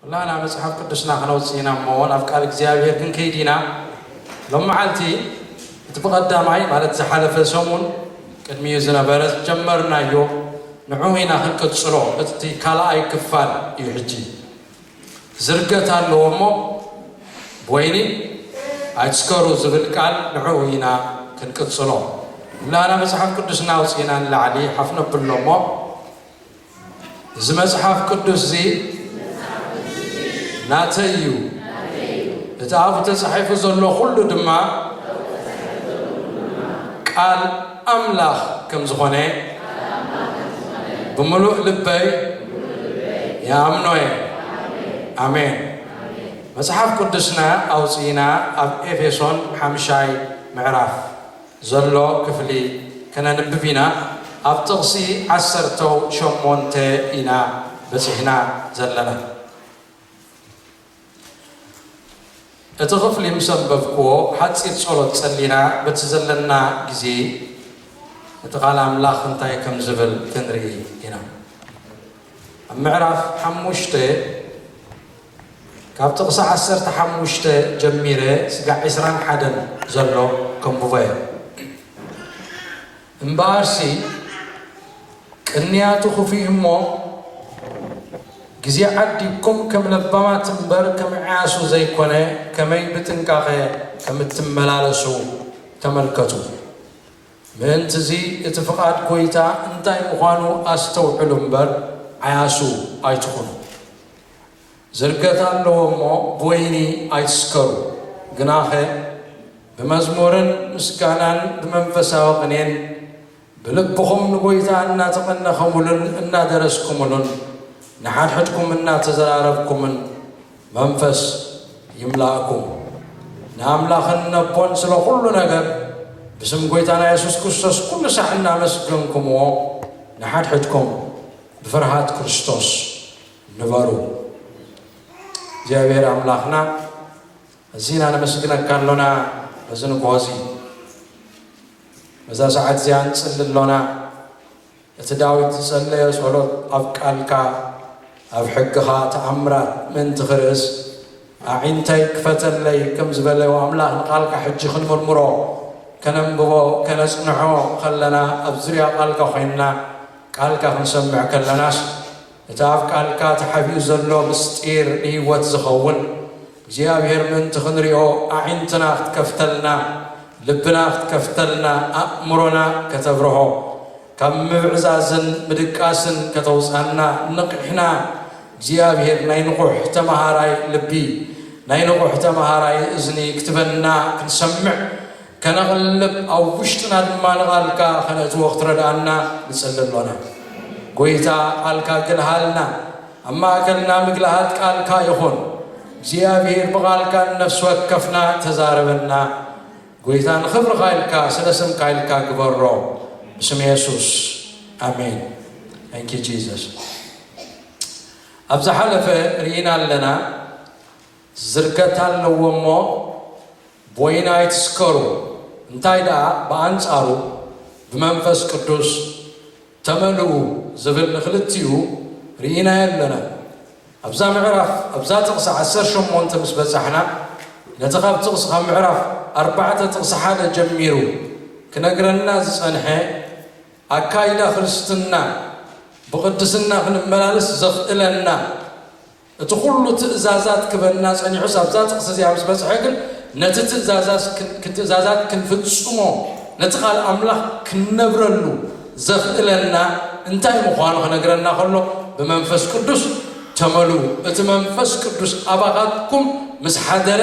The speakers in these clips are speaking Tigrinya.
ኩላህና መጽሓፍ ቅዱስና ክነውጽእ ኢና እሞ ናብ ቃል እግዚኣብሔር ክንከይድ ኢና ሎም መዓልቲ እቲ ብቐዳማይ ማለት ዝሓለፈ ሰሙን ቅድሚኡ ዝነበረ ዝጀመርናዮ ንዑ ኢና ክንቅጽሎ እቲ ካልኣይ ክፋል እዩ ሕጂ ዝርገት ኣለዎ እሞ ብወይኒ ኣይትስከሩ ዝብል ቃል ንዑ ኢና ክንቅጽሎ ኩላህና መጽሓፍ ቅዱስና ኣውጽእና ንላዕሊ ሓፍ ነብሎ እሞ እዚ መጽሓፍ ቅዱስዚ ናተይ እዩ፣ እቲ ኣብኡ ተጻሒፉ ዘሎ ዅሉ ድማ ቃል ኣምላኽ ከም ዝዀነ ብምሉእ ልበይ ይኣምኖ እየ። ኣሜን። መጽሓፍ ቅዱስና ኣውጺእና ኣብ ኤፌሶን ሓምሻይ ምዕራፍ። ዘሎ ክፍሊ ከነንብብ ኢና። ኣብ ጥቕሲ ዓሰርተው ሸሞንተ ኢና በጺሕና ዘለና። እቲ ክፍሊ ምስ ኣንበብኩዎ ሓጺር ጸሎት ጸሊና በቲ ዘለና ግዜ እቲ ቃል ኣምላኽ እንታይ ከም ዝብል ክንርኢ ኢና። ኣብ ምዕራፍ ሓሙሽተ ካብ ጥቕሲ ዓሰርተ ሓሙሽተ ጀሚረ ስጋዕ ዕስራን ሓደን ዘሎ ከንብቦ እየ። እምበኣርሲ ቅንያቱ ኽፉእ እሞ፣ ግዜ ዓዲግኩም ከም ለባማት እምበር ከም ዕያሱ ዘይኰነ ከመይ ብጥንቃቐ ከም እትመላለሱ ተመልከቱ። ምእንትዚ እቲ ፍቓድ ጐይታ እንታይ ምዃኑ ኣስተውዕሉ እምበር፣ ዓያሱ ኣይትኹኑ። ዝርገት ኣለዎ እሞ ብወይኒ ኣይትስከሩ ግናኸ ብመዝሙርን ምስጋናን ብመንፈሳዊ ቅኔን ብልብኹም ንጐይታ እናተቐነኸሙሉን እናደረስኩምሉን ንሓድሕድኩም እናተዘራረብኩምን መንፈስ ይምላእኩም። ንኣምላኽን ነቦን ስለ ዅሉ ነገር ብስም ጐይታና የሱስ ክርስቶስ ኵሉ ሳዕ እናመስገንኩምዎ ንሓድሕድኩም ብፍርሃት ክርስቶስ ንበሩ። እግዚኣብሔር ኣምላኽና እዚና ነመስግነካ ኣሎና በዚ ንግሆ እዚ በዛ ሰዓት እዚኣ ንጽሊ ኣሎና እቲ ዳዊት ዝጸለዮ ጸሎት ኣብ ቃልካ ኣብ ሕግኻ ተኣምራት ምእንቲ ክርእስ ኣዒንተይ ክፈተለይ ከም ዝበለዎ ኣምላኽ ንቓልካ ሕጂ ክንምርምሮ ከነንብቦ ከነጽንዖ ከለና ኣብ ዙርያ ቓልካ ኮይንና ቃልካ ክንሰምዕ ከለናስ እቲ ኣብ ቃልካ ተሓቢኡ ዘሎ ምስጢር ንህይወት ዝኸውን እግዚኣብሔር ምእንቲ ክንሪኦ ኣዒንትና ክትከፍተልና ልብና ክትከፍተልና ኣእምሮና ከተብርሆ ካብ ምብዕዛዝን ምድቃስን ከተውጻና ንቕሕና እግዚኣብሔር ናይ ንቑሕ ተመሃራይ ልቢ ናይ ንቑሕ ተመሃራይ እዝኒ ክትበና ክንሰምዕ ከነቕልብ ኣብ ውሽጥና ድማ ንቓልካ ከነእትዎ ክትረድኣና ንጽሊ ኣሎና ጎይታ ቓልካ ግልሃልና ኣብ ማእከልና ምግልሃት ቃልካ ይኹን እግዚኣብሄር ብቓልካ ንነፍሲ ወከፍና ተዛረበና ጎይታ ንኽብርኻ ኢልካ ስለ ስምካ ኢልካ ግበሮ ብስም የሱስ ኣሜን Thank you Jesus ኣብ ዝሓለፈ ርኢና ኣለና ዝርገት ኣለዎ እሞ ቦይና ኣይትስከሩ እንታይ ደኣ ብኣንጻሩ ብመንፈስ ቅዱስ ተመልኡ ዝብል ንክልቲኡ ርኢናዮ ኣለና ኣብዛ ምዕራፍ ኣብዛ ጥቅሲ ዓሰርተ ሸሞንተ ምስ በጻሕና ነቲ ካብ ጥቅሲ ካብ ምዕራፍ ኣርባዕተ ጥቅሲ ሓደ ጀሚሩ ክነግረና ዝጸንሐ ኣካይዳ ክርስትና ብቅድስና ክንመላለስ ዘኽእለና እቲ ዅሉ ትእዛዛት ክበና ጸኒሑስ ኣብዛ ጥቕሲ እዚኣ ምስ በጽሐ ግን ነቲ ትእዛዛት ክንፍጽሞ ነቲ ቓል ኣምላኽ ክንነብረሉ ዘኽእለና እንታይ ምዃኑ ክነግረና ከሎ ብመንፈስ ቅዱስ ተመልኡ እቲ መንፈስ ቅዱስ ኣባኻትኩም ምስ ሓደረ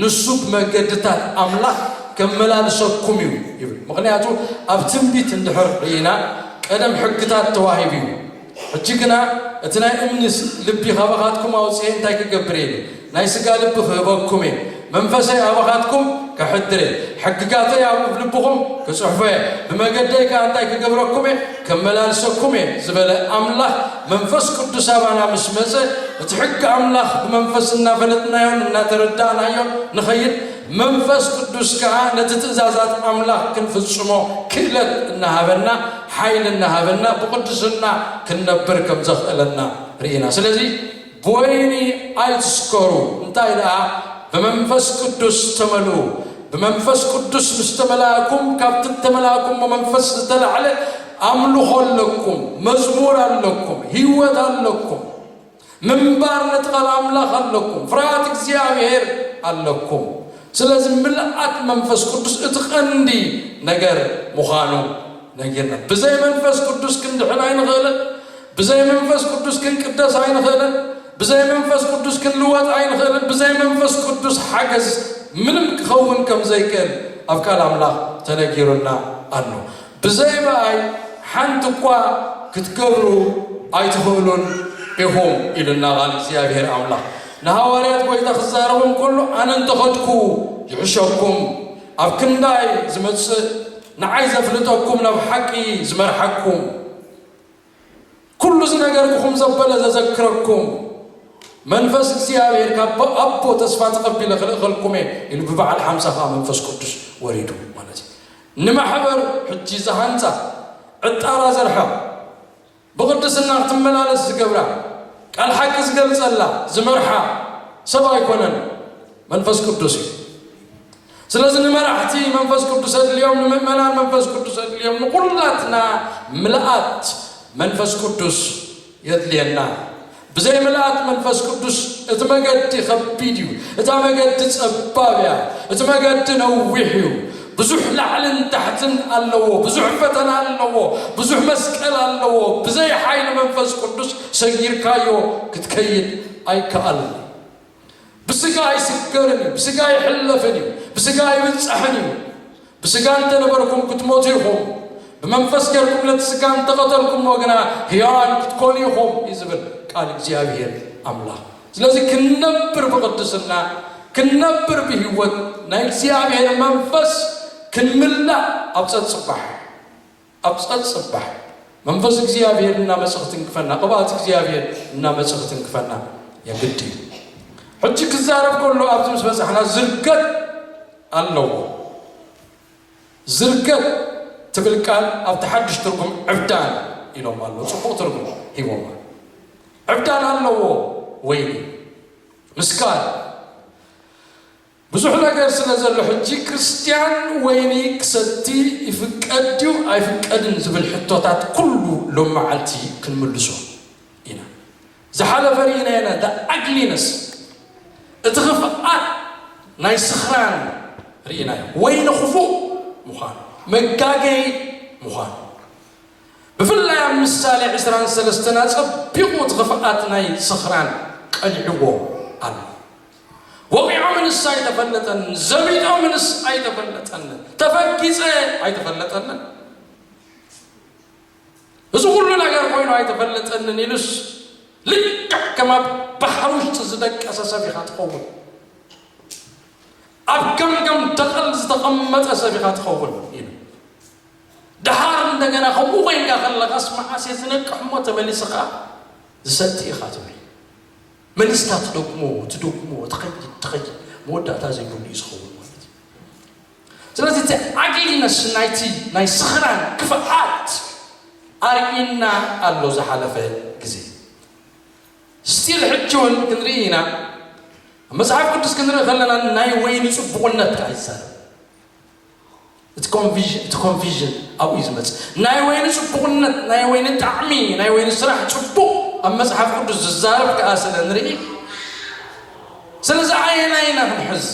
ንሱ ብመገድታት ኣምላኽ ከመላልሰኩም እዩ ይብል ምኽንያቱ ኣብ ትንቢት እንድሕር ርኢና ቀደም ሕግታት ተዋሂቡ እዩ ሕጂ ግና እቲ ናይ እምኒ ልቢ ኻባኻትኩም ኣውጽኤ እንታይ ክገብር እየ? ናይ ስጋ ልቢ ኽህበኩም እየ፣ መንፈሰይ ኣባኻትኩም ከሕድር እየ፣ ሕግጋተይ ኣብ እብልብኹም ክጽሕፎ እየ፣ ብመገደይ ከኣ እንታይ ክገብረኩም እየ? ከመላልሰኩም እየ ዝበለ ኣምላኽ፣ መንፈስ ቅዱስ ኣባና ምስ መጸ፣ እቲ ሕጊ ኣምላኽ ብመንፈስ እናፈለጥናዮን እናተረዳእናዮን ንኸይድ፣ መንፈስ ቅዱስ ከኣ ነቲ ትእዛዛት ኣምላኽ ክንፍጽሞ ክእለት እናሃበና ሓይሊ እናሃበና ብቕድስና ክንነብር ከም ዘኽእለና ርኢና። ስለዚ ብወይኒ ኣይትስከሩ፣ እንታይ ደኣ ብመንፈስ ቅዱስ ተመልኡ። ብመንፈስ ቅዱስ ምስ ተመላእኩም፣ ካብቲ እተመላእኩሞ መንፈስ ዝተላዕለ ኣምልኾ ኣለኩም፣ መዝሙር ኣለኩም፣ ህይወት ኣለኩም። ምንባር ነቲ ቃል ኣምላኽ ኣለኩም ፍርሃት እግዚኣብሄር ኣለኩም ስለዚ ምልኣት መንፈስ ቅዱስ እቲ ቀንዲ ነገር ምዃኑ ነጊርና ብዘይ መንፈስ ቅዱስ ክንድሕን ኣይንኽእልን ብዘይ መንፈስ ቅዱስ ክንቅደስ ኣይንኽእልን ብዘይ መንፈስ ቅዱስ ክንልወጥ ኣይንኽእልን ብዘይ መንፈስ ቅዱስ ሓገዝ ምንም ክኸውን ከም ዘይክእል ኣብ ቃል ኣምላኽ ተነጊሩና ኣሎ ብዘይ ምኣይ ሓንቲ እኳ ክትገብሩ ኣይትኽእሉን ኢኹም ኢሉና ቓል እግዚኣብሄር ኣምላኽ ንሃዋርያት ጐይታ ክዛረቦም ከሎ ኣነ እንተ ኸድኩ ይሕሸኩም ኣብ ክንዳይ ዝመጽእ ንዓይ ዘፍልጠኩም ናብ ሓቂ ዝመርሓኩም ኩሉ ዝነገርኩኹም ዘበለ ዘዘክረኩም መንፈስ እግዚኣብሔር ካብ ኣቦ ተስፋ ተቐቢለ ክልእኸልኩም እየ ኢሉ ብበዓል ሓምሳ ከዓ መንፈስ ቅዱስ ወሪዱ ማለት እዩ ንማሕበር ሕጂ ዝሃንፃ ዕጣራ ዘርሓ ብቕድስና ክትመላለስ ዝገብራ ቃል ሓቂ ዝገልፀላ ዝመርሓ ሰብ ኣይኮነን መንፈስ ቅዱስ እዩ ስለዚ ንመራሕቲ መንፈስ ቅዱስ ኣድልዮም፣ ንምእመናን መንፈስ ቅዱስ ኣድልዮም፣ ንኹላትና ምልኣት መንፈስ ቅዱስ የድልየና። ብዘይ ምልኣት መንፈስ ቅዱስ እቲ መገዲ ከቢድ እዩ፣ እታ መገዲ ጸባብ እያ፣ እቲ መገዲ ነዊሕ እዩ፣ ብዙሕ ላዕልን ታሕትን ኣለዎ፣ ብዙሕ ፈተና ኣለዎ፣ ብዙሕ መስቀል ኣለዎ፣ ብዘይ ሓይሊ መንፈስ ቅዱስ ሰጊርካዮ ክትከይድ ኣይከኣልን። ብስጋ ኣይስገርን እዩ፣ ብስጋ ኣይሕለፍን እዩ፣ ብስጋ ኣይብጸሕን እዩ። ብስጋ እንተ ነበርኩም ክትሞቱ ኢኹም፣ ብመንፈስ ጌርኩም ነቲ ስጋ እንተ ቐተልኩምዎ ግና ህያዋን ክትኮኑ ኢኹም እዩ ዝብል ቃል እግዚኣብሔር ኣምላኽ። ስለዚ ክንነብር ብቕድስና ክንነብር ብህይወት ናይ እግዚኣብሔር መንፈስ ክንምላእ ኣብ ጸጽባሕ ኣብ ጸጽባሕ መንፈስ እግዚኣብሔር እናመጸ ክትንክፈና ቅብኣት እግዚኣብሔር እናመጸ ክትንክፈና የግድ እዩ ሕጂ ክዛረብ ከሎ ኣብዚ ምስ በጻሕና ዝርገት ኣለዎ ዝርገት ትብል ቃል ኣብቲ ሓድሽ ትርጉም ዕብዳን ኢሎም ኣሎ ጽቡቕ ትርጉም ሂቦማ ዕብዳን ኣለዎ ወይኒ ምስካር ብዙሕ ነገር ስለ ዘሎ ሕጂ ክርስትያን ወይኒ ክሰቲ ይፍቀድ ድዩ ኣይፍቀድን ዝብል ሕቶታት ኩሉ ሎምመዓልቲ ክንምልሶ ኢና። ዝሓለፈ ርኢናዮ ኢና the ugliness እቲ ክፍኣት ናይ ስኽራን ርኢናዮ። ወይኒ ክፉእ ምዃኑ መጋገዪ ምዃኑ ብፍላይ ኣብ ምሳሌ ዕስራን ሰለስተን ኣጸቢቑ እቲ ክፍኣት ናይ ስኽራን ቀሊዕዎ ኣሎ። ወቒዖምንስ ኣይተፈለጠንን፣ ዘቢጦምንስ ኣይተፈለጠንን፣ ተፈጊፀ ኣይተፈለጠንን፣ እዚ ኹሉ ነገር ኮይኑ ኣይተፈለጠንን ኢሉስ ልክዕ ከም ኣብ ባሕሪ ውሽጢ ዝደቀሰ ሰብ ኢኻ ትኸውን። ኣብ ገምገም ደቐል ዝተቐመጠ ሰብ ኢኻ ትኸውን ኢሉ ድሓር እንደገና ከምኡ ኮይንካ ከለኻስ መዓስ እየ ዝነቅሕ እሞ ተመሊስኻ ዝሰቲ ኢኻ ትብል መሊስካ ትደግሞ ትደግሞ ትኸይድ ትኸይድ መወዳእታ ዘይብሉ እዩ ዝኸውን ማለት እዩ ስለዚ እቲ ዓጊልነስ ናይቲ ናይ ስኽራን ክፍኣት ኣርእዩና ኣሎ ዝሓለፈ ግዜ ስቲል ሕጂ እውን ክንርኢ ኢና መጽሓፍ ቅዱስ ክንርኢ ከለና ናይ ወይኒ ጽቡቕነት ከዓ ይዛረብ እቲ ኮንፊዥን ኣብኡ እዩ ዝመጽእ ናይ ወይኒ ጽቡቕነት ናይ ወይኒ ጣዕሚ ናይ ወይኒ ስራሕ ጽቡቕ ኣብ መጽሓፍ ቅዱስ ዝዛረብ ከዓ ስለ ንርኢ ስለዚ ኣየናይ ኢና ክንሕዝ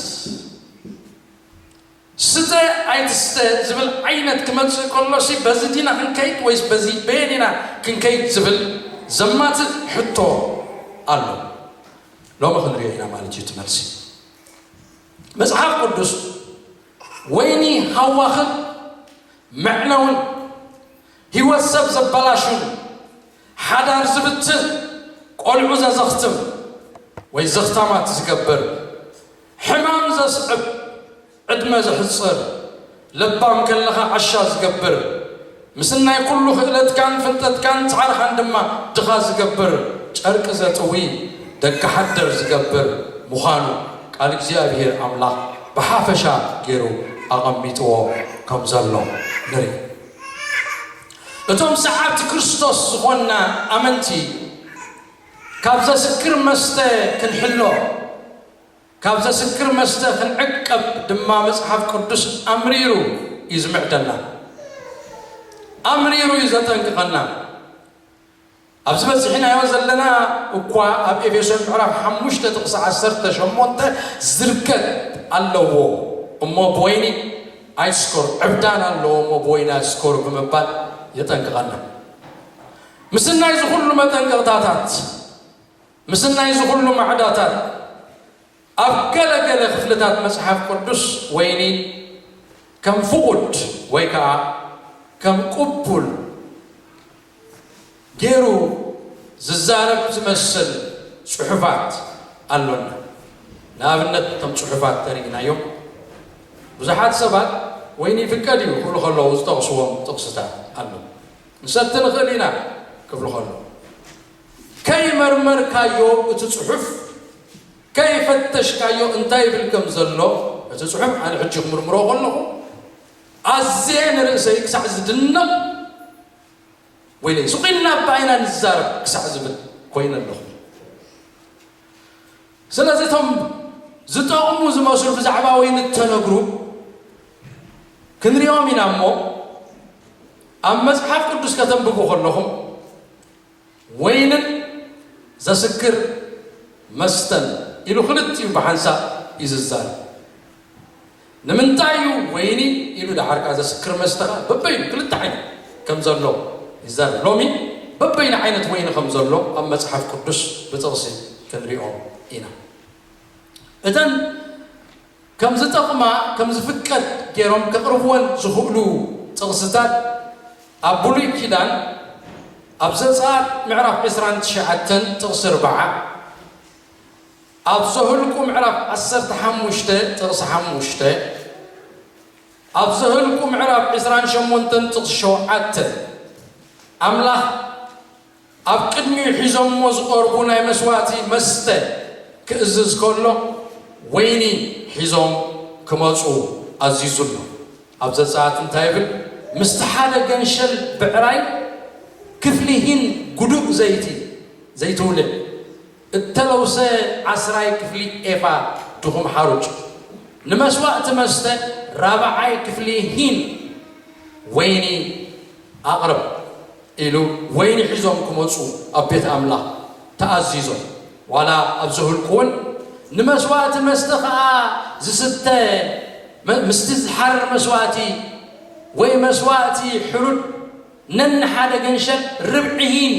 ስተ ኣይትስተ ዝብል ዓይነት ክመጽእ ከሎሲ በዚ ዲና ክንከይድ ወይስ በዚ በየን ኢና ክንከይድ ዝብል ዘማትእ ሕቶ ኣሎ ሎሚ ክንሪኦ ኢና ማለት እዩ ትመልሲ መጽሓፍ ቅዱስ ወይኒ ሃዋኽን መዕነውን ህይወት ሰብ ዘበላሹን ሓዳር ዝብትን ቆልዑ ዘዘኽትም ወይ ዘኽታማት ዝገብር ሕማም ዘስዕብ ዕድመ ዘሕፅር ለባም ከለኻ ዓሻ ዝገብር፣ ምስናይ ኩሉ ክእለትካን ፍልጠትካን ጻዕርኻን ድማ ድኻ ዝገብር፣ ጨርቂ ዘጥዊ፣ ደገ ሓደር ዝገብር ምዃኑ ቃል እግዚኣብሄር ኣምላኽ ብሓፈሻ ገይሩ ኣቐሚጥዎ ከም ዘሎ ንርኢ። እቶም ሰዓብቲ ክርስቶስ ዝኾንና ኣመንቲ ካብ ዘስክር መስተ ክንሕሎ፣ ካብ ዘስክር መስተ ኽንዕቀብ ድማ መጽሓፍ ቅዱስ ኣምሪሩ እዩ ዚምዕደና። ኣምሪሩ እዩ ዜጠንቅቐና። ኣብዚ በጺሕናዮ ዘለና እኳ ኣብ ኤፌሶን ምዕራፍ ሓሙሽተ ጥቕሲ ዓሰርተ ሸሞንተ ዝርከብ ኣለዎ እሞ ብወይኒ ኣይስከሩ፣ ዕብዳን ኣለዎ እሞ ብወይኒ ኣይስከሩ ብምባል የጠንቅቐና። ምስናይ እዚ ዅሉ መጠንቀቕታታት፣ ምስናይ እዚ ዅሉ ማዕዳታት፣ ኣብ ገለ ገለ ኽፍልታት መጽሓፍ ቅዱስ ወይኒ ከም ፍቑድ ወይ ከኣ ከም ቕቡል ገይሩ ዚዛረብ ዚመስል ጽሑፋት ኣሎና። ንኣብነት፣ እቶም ጽሑፋት እንተ ርኢናዮም፣ ብዙሓት ሰባት ወይኒ ይፍቀድ እዩ ኪብሉ ኸለዉ ዚጠቕስዎም ጥቕስታት ኣለዉ። ክንሰቲ ንኽእል ኢና ኪብሉ ኸለዉ። ከይመርመርካዮ እቲ ጽሑፍ ከይፈተሽካዮ እንታይ ይብል ከም ዘሎ እቲ ጽሑፍ ኣነ ሕጂ ክምርምሮ ከለኹ ኣዝየ ንርእሰይ ክሳዕ ዝድነቕ ወይለይ ስቕ ኢልና እባ ኢና ንዛረብ ክሳዕ ዝብል ኮይነ ኣለኹ ስለዚ እቶም ዝጠቕሙ ዝመስሉ ብዛዕባ ወይኒ እተነግሩ ክንሪኦም ኢና እሞ ኣብ መጽሓፍ ቅዱስ ከተንብቡ ከለኹም ወይንን ዘስክር መስተን ኢሉ ክልቲኡ ብሓንሳብ እዩ ዝዛረብ። ንምንታይ እዩ ወይኒ ኢሉ ደሓርካ ዘስክር መስተ ከኣ በበይኑ ክልተ ዓይነት ከም ዘሎ ይዛረብ። ሎሚ በበይኑ ዓይነት ወይኒ ከም ዘሎ ኣብ መጽሓፍ ቅዱስ ብጥቕሲ ክንሪኦ ኢና። እተን ከም ዝጠቕማ ከም ዝፍቀድ ገይሮም ከቕርብወን ዝኽእሉ ጥቕስታት ኣብ ብሉይ ኪዳን ኣብ ዘጸኣት ምዕራፍ ዕስራን ትሽዓተን ጥቕሲ ኣርብዓ፣ ኣብ ዘህልቁ ምዕራፍ ዓሰርተ ሓሙሽተ ጥቕሲ ሓሙሽተ፣ ኣብ ዘህልቁ ምዕራፍ ዕስራን ሸሞንተን ጥቕሲ ሸውዓተ ኣምላኽ ኣብ ቅድሚኡ ሒዞሞ ዝቐርቡ ናይ መስዋእቲ መስተ ክእዝዝ ከሎ፣ ወይኒ ሒዞም ክመጹ ኣዚዙ ኣሎ። ኣብ ዘጸኣት እንታይ ይብል? ምስቲ ሓደ ገንሸል ብዕራይ ክፍሊሂን ግዱእ ዘይቲ፣ ዘይትውልዕ እተለውሰ ዓስራይ ክፍሊ ኤፋ ድኹም ሓሩጭ፣ ንመስዋእቲ መስተ ራብዓይ ክፍሊ ሂን ወይኒ ኣቕርብ ኢሉ ወይኒ ሒዞም ክመጹ ኣብ ቤት ኣምላኽ ተኣዚዞም። ዋላ ኣብ ዘህልቁውን ንመስዋእቲ መስተ ኸኣ ዝስተ ምስቲ ዝሓርር መስዋእቲ ወይ መስዋእቲ ሕሩድ፣ ነንሓደ ገንሸል ርብዒ ሂን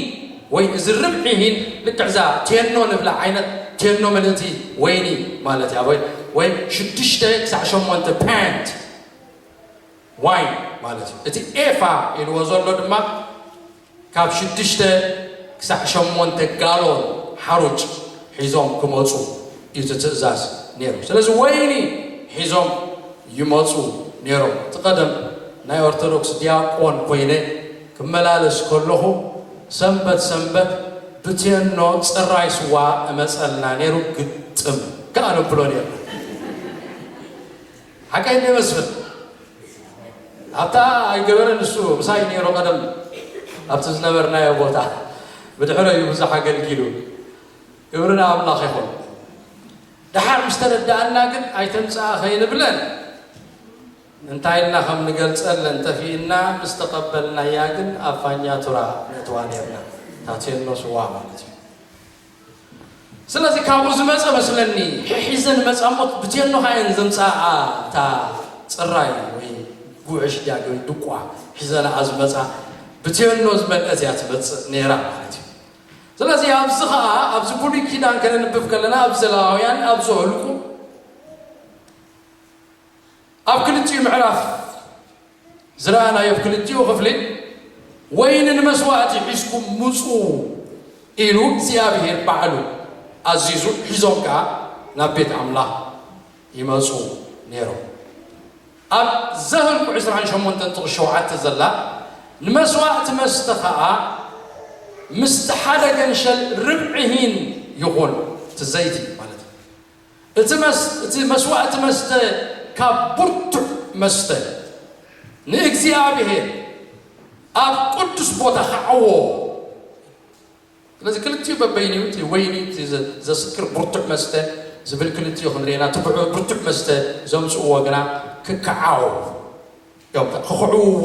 ወይ እዚ ርብዒ ሂን ልክዕ እዛ ቴኖ ንብላ ዓይነት ቴኖ ምልእቲ ወይኒ ማለት እያ ወይ ወይ ሽዱሽተ ክሳዕ ሸሞንተ ፓንት ዋይን ማለት እዩ እቲ ኤፋ ኢልዎ ዘሎ ድማ ካብ ሽዱሽተ ክሳዕ ሸሞንተ ጋሎን ሓሩጭ ሒዞም ክመፁ እዩ እቲ ትእዛዝ ነይሩ። ስለዚ ወይኒ ሒዞም ይመጹ ነይሮም። እቲ ቀደም ናይ ኦርቶዶክስ ዲያቆን ኮይነ ክመላለስ ከለኹ ሰንበት ሰንበት ብቴኖ ጽራይ ስዋ እመጸልና ነይሩ ግጥም ከኣ ነብሎ ነይርና። ሓቀይ እንዴ መስፍን? ኣብታ ኣይገበረን ንሱ ምሳይ ነይሩ ቀደም ኣብቲ ዝነበርናዮ ቦታ ብድሕረዩ ብዙሕ ኣገልጊሉ። ክብሪ ንኣምላኽ ይኹን ደሓር ምስ ተረድኣና ግን ኣይተምጽኣ ከይንብለን እንታይ ኢልና ከም ንገልጸለን ጠፊእና ምስ ተቐበልናያ ግን ኣብ ፋኛቱራ ነእትዋ ኔርና ታቴኖ ስዋ ማለት እዩ ስለዚ ካብኡ ዝመጸ መስለኒ ሒሒዘን መጻ እሞ ብቴኖ ከዓ እየን ዘምጽኣ እታ ጽራይ ወይ ጉዕሽ ድያ ወይ ድቋ ሒዘንኣ ዝመጻ ብቴኖ ዝመልአት እያ ትመጽእ ነይራ ማለት እዩ ስለዚ ኣብዚ ከኣ ኣብዚ ብሉይ ኪዳን ከነንብብ ከለና ኣብ ዘለዋውያን ኣብ ዘሁልቁ ኣብ ክልቲኡ ምዕራፍ ዝረኣናዮ ኣብ ክልቲኡ ክፍሊ ወይኒ ንመስዋእቲ ሒዝኩም ምጹ ኢሉ እግዚኣብሄር ባዕሉ ኣዚዙ ሒዞም ከኣ ናብ ቤት ኣምላኽ ይመጹ ነይሮም። ኣብ ዘህልቁ ዕስራን ሸሞንተን ጥቕሲ ሸውዓተ ዘላ ንመስዋእቲ መስተ ኸኣ ምስቲ ሓደ ገንሸል ርብዒ ሂን ይኹን፣ እቲ ዘይቲ ማለት እዩ፣ እቲ እቲ መስዋእቲ መስተ ካብ ብርቱዕ መስተ ንእግዚኣብሄር ኣብ ቅዱስ ቦታ ኸዐዎ፣ ስለዚ ክልቲኡ በበይኒኡ እቲ ወይኒ እቲ ዘስክር ብርቱዕ መስተ ዝብል ክልቲኡ ክንሪኤና እቲ ብርቱዕ መስተ ዘምጽእዎ ግና ክከዓው እዮም ክክዕውዎ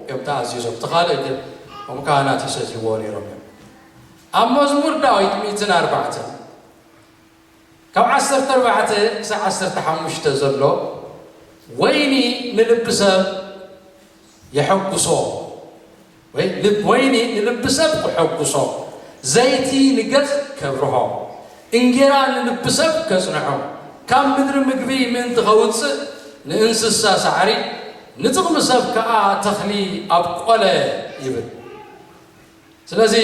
እዮም ተኣዚዞም እቲ ካልእ ግን እቶም ካህናት ይሰትይዎ ነይሮም እዮም ኣብ መዝሙር ዳዊት ሚእትን ኣርባዕተን ካብ ዓሰርተ ኣርባዕተ ክሳዕ ዓሰርተ ሓሙሽተ ዘሎ፣ ወይኒ ንልቢ ሰብ የሐጉሶ ወይ ልብ ወይኒ ንልቢ ሰብ ክሐጉሶ፣ ዘይቲ ንገጽ ከብርሆ፣ እንጌራ ንልቢ ሰብ ከጽንዖ፣ ካብ ምድሪ ምግቢ ምእንቲ ከውጽእ ንእንስሳ ሳዕሪ፣ ንጥቕሚ ሰብ ከኣ ተኽሊ ኣብቆለ ይብል። ስለዚ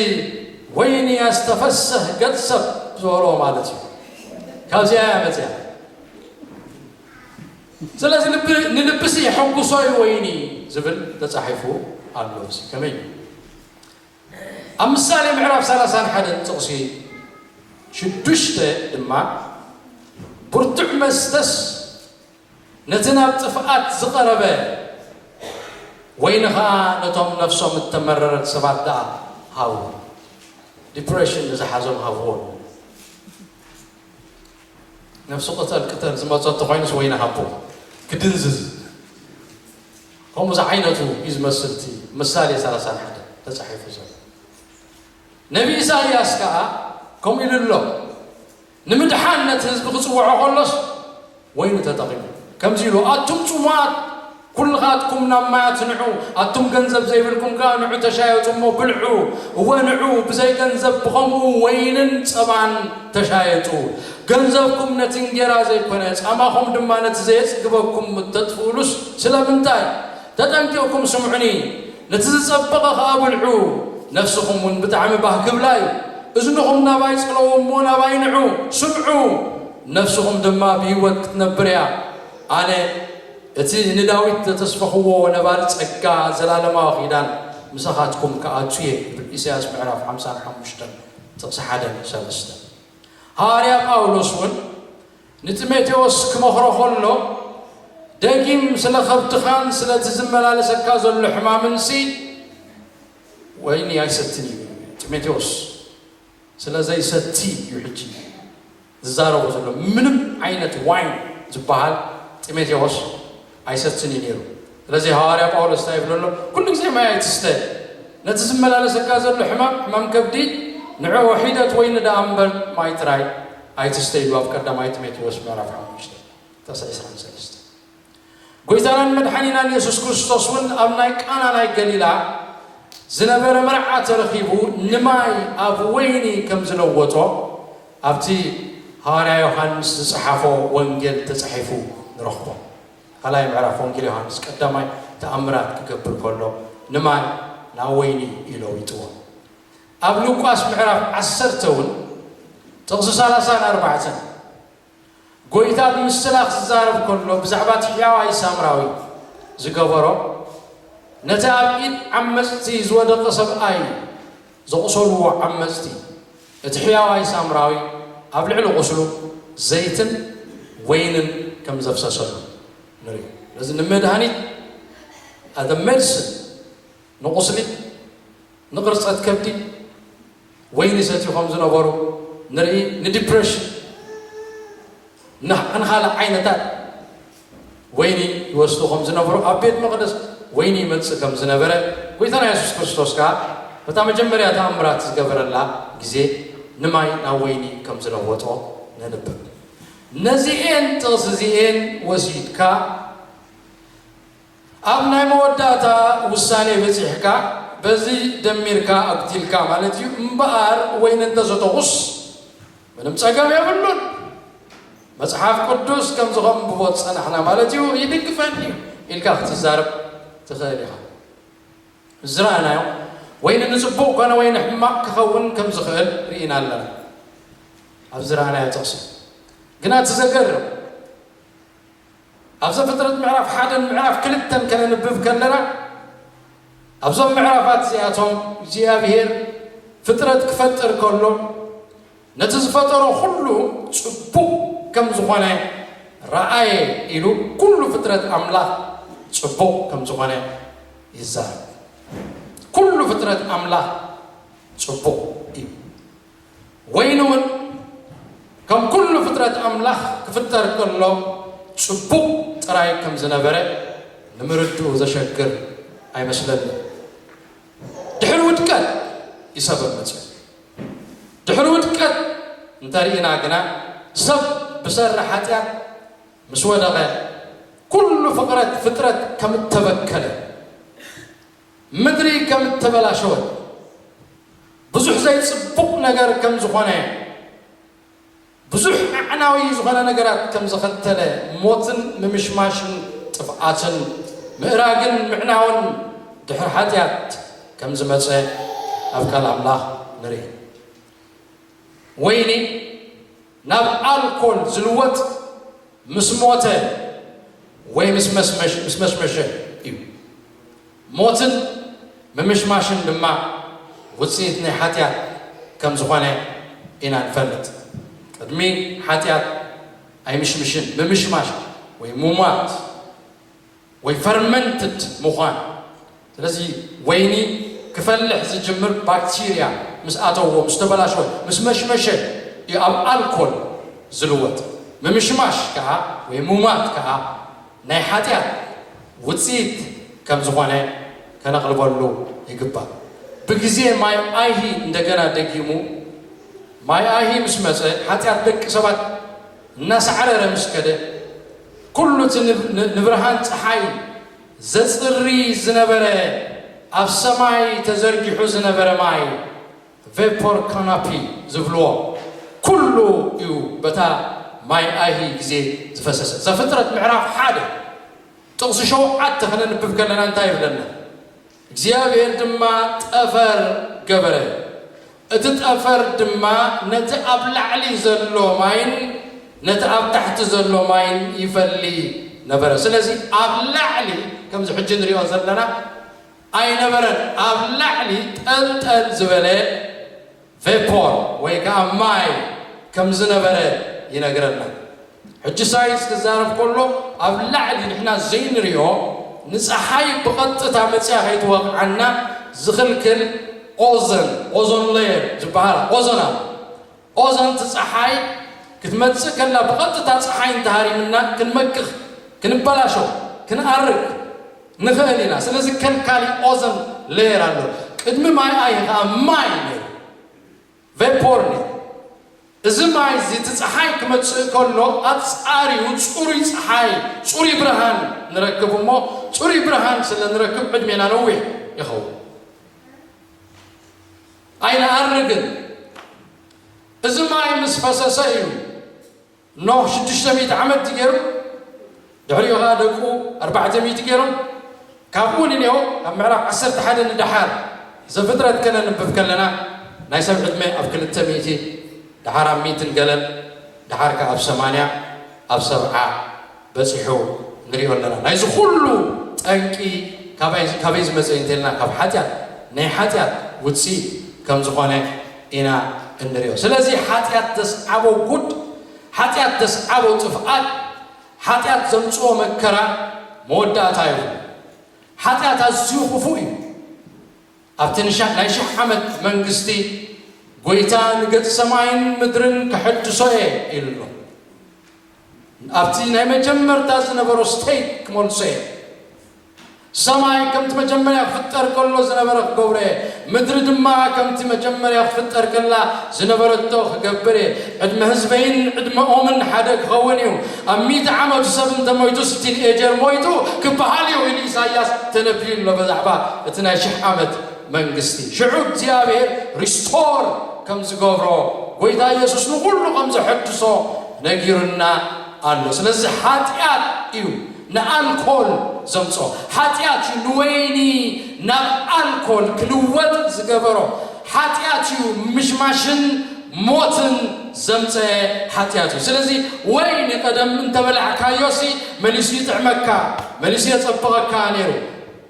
ወይኒ ያስተፈስህ ገጽ ሰብ ዝበልዎ ማለት እዩ ካብዚኣ እያ መጺኣ ስለዚ ልቢ ንልብሲ የሐጉሶ እዩ ወይኒ ዝብል ተጻሒፉ ኣሎ እዚ ከመይ እዩ ኣብ ምሳሌ ምዕራፍ 31 ጥቕሲ ሽዱሽተ ድማ ብርቱዕ መስተስ ነቲ ናብ ጥፍኣት ዝቐረበ ወይኒ ኸኣ ነቶም ነፍሶም እተመረረት ሰባት ደኣ ሃቡ። ዲፕረሽን ንዝሓዞም ሃብዎም። ነፍሱ ቅተል ቅተል ዝመጾ እንተኾይኑስ ወይኒ ሃቦ ክድንዝዝ። ከምኡ ዝዓይነቱ እዩ ዝመስል እቲ ምሳሌ ሰላሳን ሓደን ተጻሒፉ ዘሎ። ነብዪ ኢሳይያስ ከኣ ከምኡ ኢሉ ኣሎ። ንምድሓን ነቲ ህዝቢ ክጽውዖ ከሎስ ወይኒ ተጠቒሙ ከምዚ ኢሉ፣ ኣቱም ጽሙኣት ኩልኻትኩም ናብ ማያት ንዑ፣ ኣቱም ገንዘብ ዘይብልኩም ከኣ ንዑ ተሻየጡ እሞ ብልዑ፣ እወ ንዑ ብዘይ ገንዘብ ብኸምኡ ወይንን ጸባን ተሻየጡ፣ ገንዘብኩም ነቲ እንጌራ ዘይኮነ፣ ጻማኹም ድማ ነቲ ዘየጽግበኩም እተጥፍኡሉስ ስለምንታይ? ተጠንቂቕኩም ስምዑኒ። ነቲ ዝጸበቐ ኸኣ ብልዑ፣ ነፍስኹምውን ብጣዕሚ ባህ ክብላ እዩ። እዝንኹም ናባይ ጸለዉ እሞ ናባይ ንዑ፣ ስምዑ፣ ነፍስኹም ድማ ብህይወት ክትነብር እያ። ኣነ እቲ ንዳዊት ዘተስፈኽዎ ነባሪ ጸጋ ዘላለማዊ ኪዳን ምሳኻትኩም ክኣቱ እየ ይብል፣ ኢሳይያስ ምዕራፍ ሓምሳን ሓሙሽተን ጥቕሲ ሓደን ሰለስተን። ሃዋርያ ጳውሎስውን ንጢሞቴዎስ ኪመኽሮ ኸሎ፣ ደጊም ስለ ኸብትኻን ስለቲ ዚመላለሰካ ዘሎ ሕማምንሲ ወይኒ ኣይሰትን እዩ ኢሉ። ጢሞቴዎስ ስለ ዘይሰቲ እዩ ሕጂ ዚዛረቦ ዘሎ። ምንም ዓይነት ዋይን ዚበሃል ጢሞቴዎስ ኣይሰትን እዩ ነይሩ። ስለዚ ሃዋርያ ጳውሎስ እንታይ ይብሎ ኣሎ? ኩሉ ግዜ ማይ ኣይትስተ፣ ነቲ ዝመላለሰካ ዘሎ ሕማም፣ ሕማም ከብዲ፣ ንዕኦ ሒደት ወይኒ ደኣ እምበር ማይ ጥራይ ኣይትስተ ኢሉ ኣብ ቀዳማይ ጢሞቴዎስ ምዕራፍ ሓሙሽተ ጥቕሲ ዕስራን ሰለስተን። ጎይታናን መድሓኒናን የሱስ ክርስቶስ እውን ኣብ ናይ ቃና ናይ ገሊላ ዝነበረ መርዓ ተረኺቡ ንማይ ኣብ ወይኒ ከም ዝለወጦ ኣብቲ ሃዋርያ ዮሃንስ ዝጸሓፎ ወንጌል ተጻሒፉ ንረኽቦ። ካልኣይ ምዕራፍ ወንጌል ዮሃንስ ቀዳማይ ተኣምራት ክገብር ከሎ ንማይ ናብ ወይኒ እዩ ለዊጥዎ። ኣብ ሉቃስ ምዕራፍ ዓሰርተ እውን ጥቕሲ ሰላሳን ኣርባዕተን። ጐይታ ብምስላፍ ዝዛረብ ከሎ ብዛዕባ እቲ ሕያዋይ ሳምራዊ ዝገበሮ፣ ነቲ ኣብ ኢድ ዓመጽቲ ዝወደቐ ሰብኣይ ዘቝሰልዎ ዓመጽቲ፣ እቲ ሕያዋይ ሳምራዊ ኣብ ልዕሊ ቝስሉ ዘይትን ወይንን ከም ዘፍሰሰሉ ንርኢ። ስለዚ ንመድሃኒት፣ the medicine፣ ንቝስሊ፣ ንቕርጸት ከብዲ፣ ወይኒ ይሰትዩ ከም ዝነበሩ ንርኢ፣ ንዲፕረሽን ንኻልእ ዓይነታት ወይኒ ይወስዱ ከም ዝነበሩ፣ ኣብ ቤት መቕደስ ወይኒ ይመጽእ ከም ዝነበረ፣ ጎይታና የሱስ ክርስቶስ ከኣ በታ መጀመርያ ተኣምራት ዝገበረላ ግዜ ንማይ ናብ ወይኒ ከም ዝለወጦ ነንብብ። ነዚኤን ጥቕሲ እዚኤን ወሲድካ ኣብ ናይ መወዳእታ ውሳኔ በጺሕካ በዚ ደሚርካ ኣጉቲልካ ማለት እዩ እምበኣር ወይኒ እንተ ሰተኹስ ምንም ጸገም የብሉን መጽሓፍ ቅዱስ ከምዚ ከንብቦ ዝጸናሕና ማለት እዩ ይድግፈኒ እዩ ኢልካ ክትዛረብ ትኽእል ኢኻ ዝረኣናዮ ወይኒ ንጽቡቕ ኮነ ወይ ንሕማቕ ክኸውን ከም ዝኽእል ርኢና ኣለና ኣብ ዝረኣናዮ ጥቕሲ ግና እቲ ዘገርም ኣብ ዘፍጥረት ምዕራፍ ሓደን ምዕራፍ ክልተን ከነንብብ ከለና ኣብዞም ምዕራፋት እዚኣቶም እግዚኣብሄር ፍጥረት ክፈጥር ከሎ ነቲ ዝፈጠሮ ኩሉ ጽቡቕ ከም ዝኾነ ረኣየ ኢሉ ኩሉ ፍጥረት ኣምላኽ ጽቡቕ ከም ዝኾነ ይዛረብ። ኩሉ ፍጥረት ኣምላኽ ጽቡቕ እዩ። ወይንውን ከም ኩሉ ፍጥረት ኣምላኽ ክፍጠር ከሎ ጽቡቕ ጥራይ ከም ዝነበረ ንምርድኡ ዘሸግር ኣይመስለንን። ድሕሪ ውድቀት እዩ ሰብ መጺኡ። ድሕሪ ውድቀት እንተ ርኢና ግና ሰብ ብሰሪ ሓጢኣት ምስ ወደቐ ኩሉ ፍቕረት ፍጥረት ከም እተበከለ፣ ምድሪ ከም እተበላሸወት፣ ብዙሕ ዘይጽቡቕ ነገር ከም ዝዀነ፣ ብዙሕ ኣዕናዊ ዝዀነ ነገራት ከም ዘኸተለ፣ ሞትን ምምሽማሽን ጥፍኣትን ምእራግን ምዕናውን ድሕሪ ሓጢኣት ከም ዝመጸ ኣብ ቃል ኣምላኽ ንርኢ። ወይኒ። ናብ ኣልኮል ዝልወጥ ምስ ሞተ ወይ ምስ መሽመሸ እዩ። ሞትን ምምሽማሽን ድማ ውጽኢት ናይ ሓጢኣት ከም ዝኾነ ኢና ንፈልጥ። ቅድሚ ሓጢኣት ኣይምሽምሽን፣ ምምሽማሽ ወይ ምሟት። ወይ ፈርመንትድ ምዃን ስለዚ ወይኒ ክፈልሕ ዝጅምር ባክቲርያ ምስ ኣተዎ ምስ ተበላሸወ ምስ መሽመሸ እዩ ኣብ ኣልኮል ዝልወጥ ምምሽማሽ ከኣ ወይ ሙማት ከኣ ናይ ሓጢኣት ውጽኢት ከም ዝኾነ ከነቕልበሉ ይግባእ ብግዜ ማይ ኣይሂ እንደገና ደጊሙ ማይ ኣይሂ ምስ መጸ ሓጢኣት ደቂ ሰባት እናሳዕረረ ምስ ከደ፣ ኩሉ እቲ ንብርሃን ጸሓይ ዘጽሪ ዝነበረ ኣብ ሰማይ ተዘርጊሑ ዝነበረ ማይ፣ ቨፖር ካናፒ ዝብልዎ፣ ኩሉ እዩ በታ ማይ ኣይሂ ግዜ ዝፈሰሰ። ዘፍጥረት ምዕራፍ ሓደ ጥቕሲ ሸውዓተ ክነንብብ ከለና እንታይ ይብለና? እግዚኣብሄር ድማ ጠፈር ገበረ፣ እቲ ጠፈር ድማ ነቲ ኣብ ላዕሊ ዘሎ ማይን ነቲ ኣብ ታሕቲ ዘሎ ማይን ይፈሊ ነበረ። ስለዚ ኣብ ላዕሊ ከምዚ ሕጂ ንሪኦ ዘለና ኣይነበረን፣ ኣብ ላዕሊ ጠልጠል ዝበለ፣ ቬፖር ወይ ከኣ ማይ ከም ዝነበረ ይነግረና። ሕጂ ሳይንስ ክዛረብ ከሎ ኣብ ላዕሊ ንሕና ዘይንሪኦ ንጸሓይ ብቐጥታ መጺኣ ከይትወቕዓና ዝኽልክል ኦዘን፣ ኦዞን ለየር፣ ዝበሃል ኦዘን ኣሎ። ኦዘን እቲ ጸሓይ ክትመጽእ ከላ ብቐጥታ ጸሓይ እንተሃሪምና ክንመክኽ፣ ክንበላሾ፣ ክንኣርግ፣ ንኸእል ኢና ስለዚ ከም ካሊእ ኦዘን ለየር ኣሎ ቅድሚ ማይ ኣይ ኸኣ ማይ እዩ ነይሩ ቨፖር ነይሩ እዚ ማይ እዚ እቲ ጸሓይ ክመጽእ ከሎ ኣብ ጻሪኡ ጽሩይ ጸሓይ ጽሩይ ብርሃን ንረክብ እሞ ጽሩይ ብርሃን ስለ ንረክብ ዕድሜና ነዊሕ ይኸውን ኣይንኣርግን እዚ ማይ ምስ ፈሰሰ እዩ ኖህ ሽዱሽተ ሚእቲ ዓመት እዩ ገይሩ፣ ድሕሪኡ ኸኣ ደቁ ኣርባዕተ ሚእቲ ገይሮም፣ ካብኡ ንኔሆ ካብ ምዕራፍ ዓሰርተ ሓደ ንደሓር ዘፍጥረት ከነንብብ ከለና ናይ ሰብ ዕድመ ኣብ ክልተ ሚእቲ፣ ደሓር ኣብ ሚእትን ገለን፣ ደሓር ከኣ ኣብ ሰማንያ፣ ኣብ ሰብዓ፣ በጺሑ ንሪኦ ኣለና ናይዚ ኩሉ ጠንቂ ካባይ ካበይ ዝመጸ እዩ እንተልና ካብ ሓጢኣት ናይ ሓጢኣት ውጽኢት ከምዝኾነ ኢና እንሪኦ ስለዚ ሓጢኣት ዘስዓቦ ጉድ ሓጢኣት ዘስዓቦ ጥፍኣት ሓጢኣት ዘምጽኦ መከራ መወዳእታ ይኹን ሓጢኣት ኣዝዩ ክፉእ እዩ ኣብቲ ናይ ሽሕ ዓመት መንግስቲ ጎይታ ንገጽ ሰማይን ምድርን ከሐድሶ እየ ኢሉ ኣሎ ናብቲ ናይ መጀመርታ ዝነበሮ ስተይት ክመልሶ እየ። ሰማይ ከምቲ መጀመርያ ክፍጠር ከሎ ዝነበረ ክገብሮ እየ። ምድሪ ድማ ከምቲ መጀመርያ ክትፍጠር ከላ ዝነበረቶ ክገብር እየ። ዕድመ ህዝበይን ዕድመኦምን ሓደ ክኸውን እዩ። ኣብ ሚእቲ ዓመቱ ሰብ እንተ ሞይቱስ ቲንኤጀር ሞይቱ ክበሃል እዩ ኢሉ ኢሳይያስ ተነብዩ ኣሎ በዛዕባ እቲ ናይ ሽሕ ዓመት መንግስቲ። ሽዑ እግዚኣብሔር ሪስቶር ከም ዝገብሮ ጎይታ ኢየሱስ ንኹሉ ከም ዘሐድሶ ነጊሩና ኣሎ ስለዚ ሓጥያት እዩ ንኣልኮል ዘምጾ ሓጥያት እዩ ንወይኒ ናብ ኣልኮል ክልወጥ ዝገበሮ ሓጥያት እዩ ምሽማሽን ሞትን ዘምጸኤ ሓጥያት እዩ ስለዚ ወይኒ ቀደም እንተበላዕካዮሲ መሊሱ ይጥዕመካ መሊሱ የጸብቐካ ነይሩ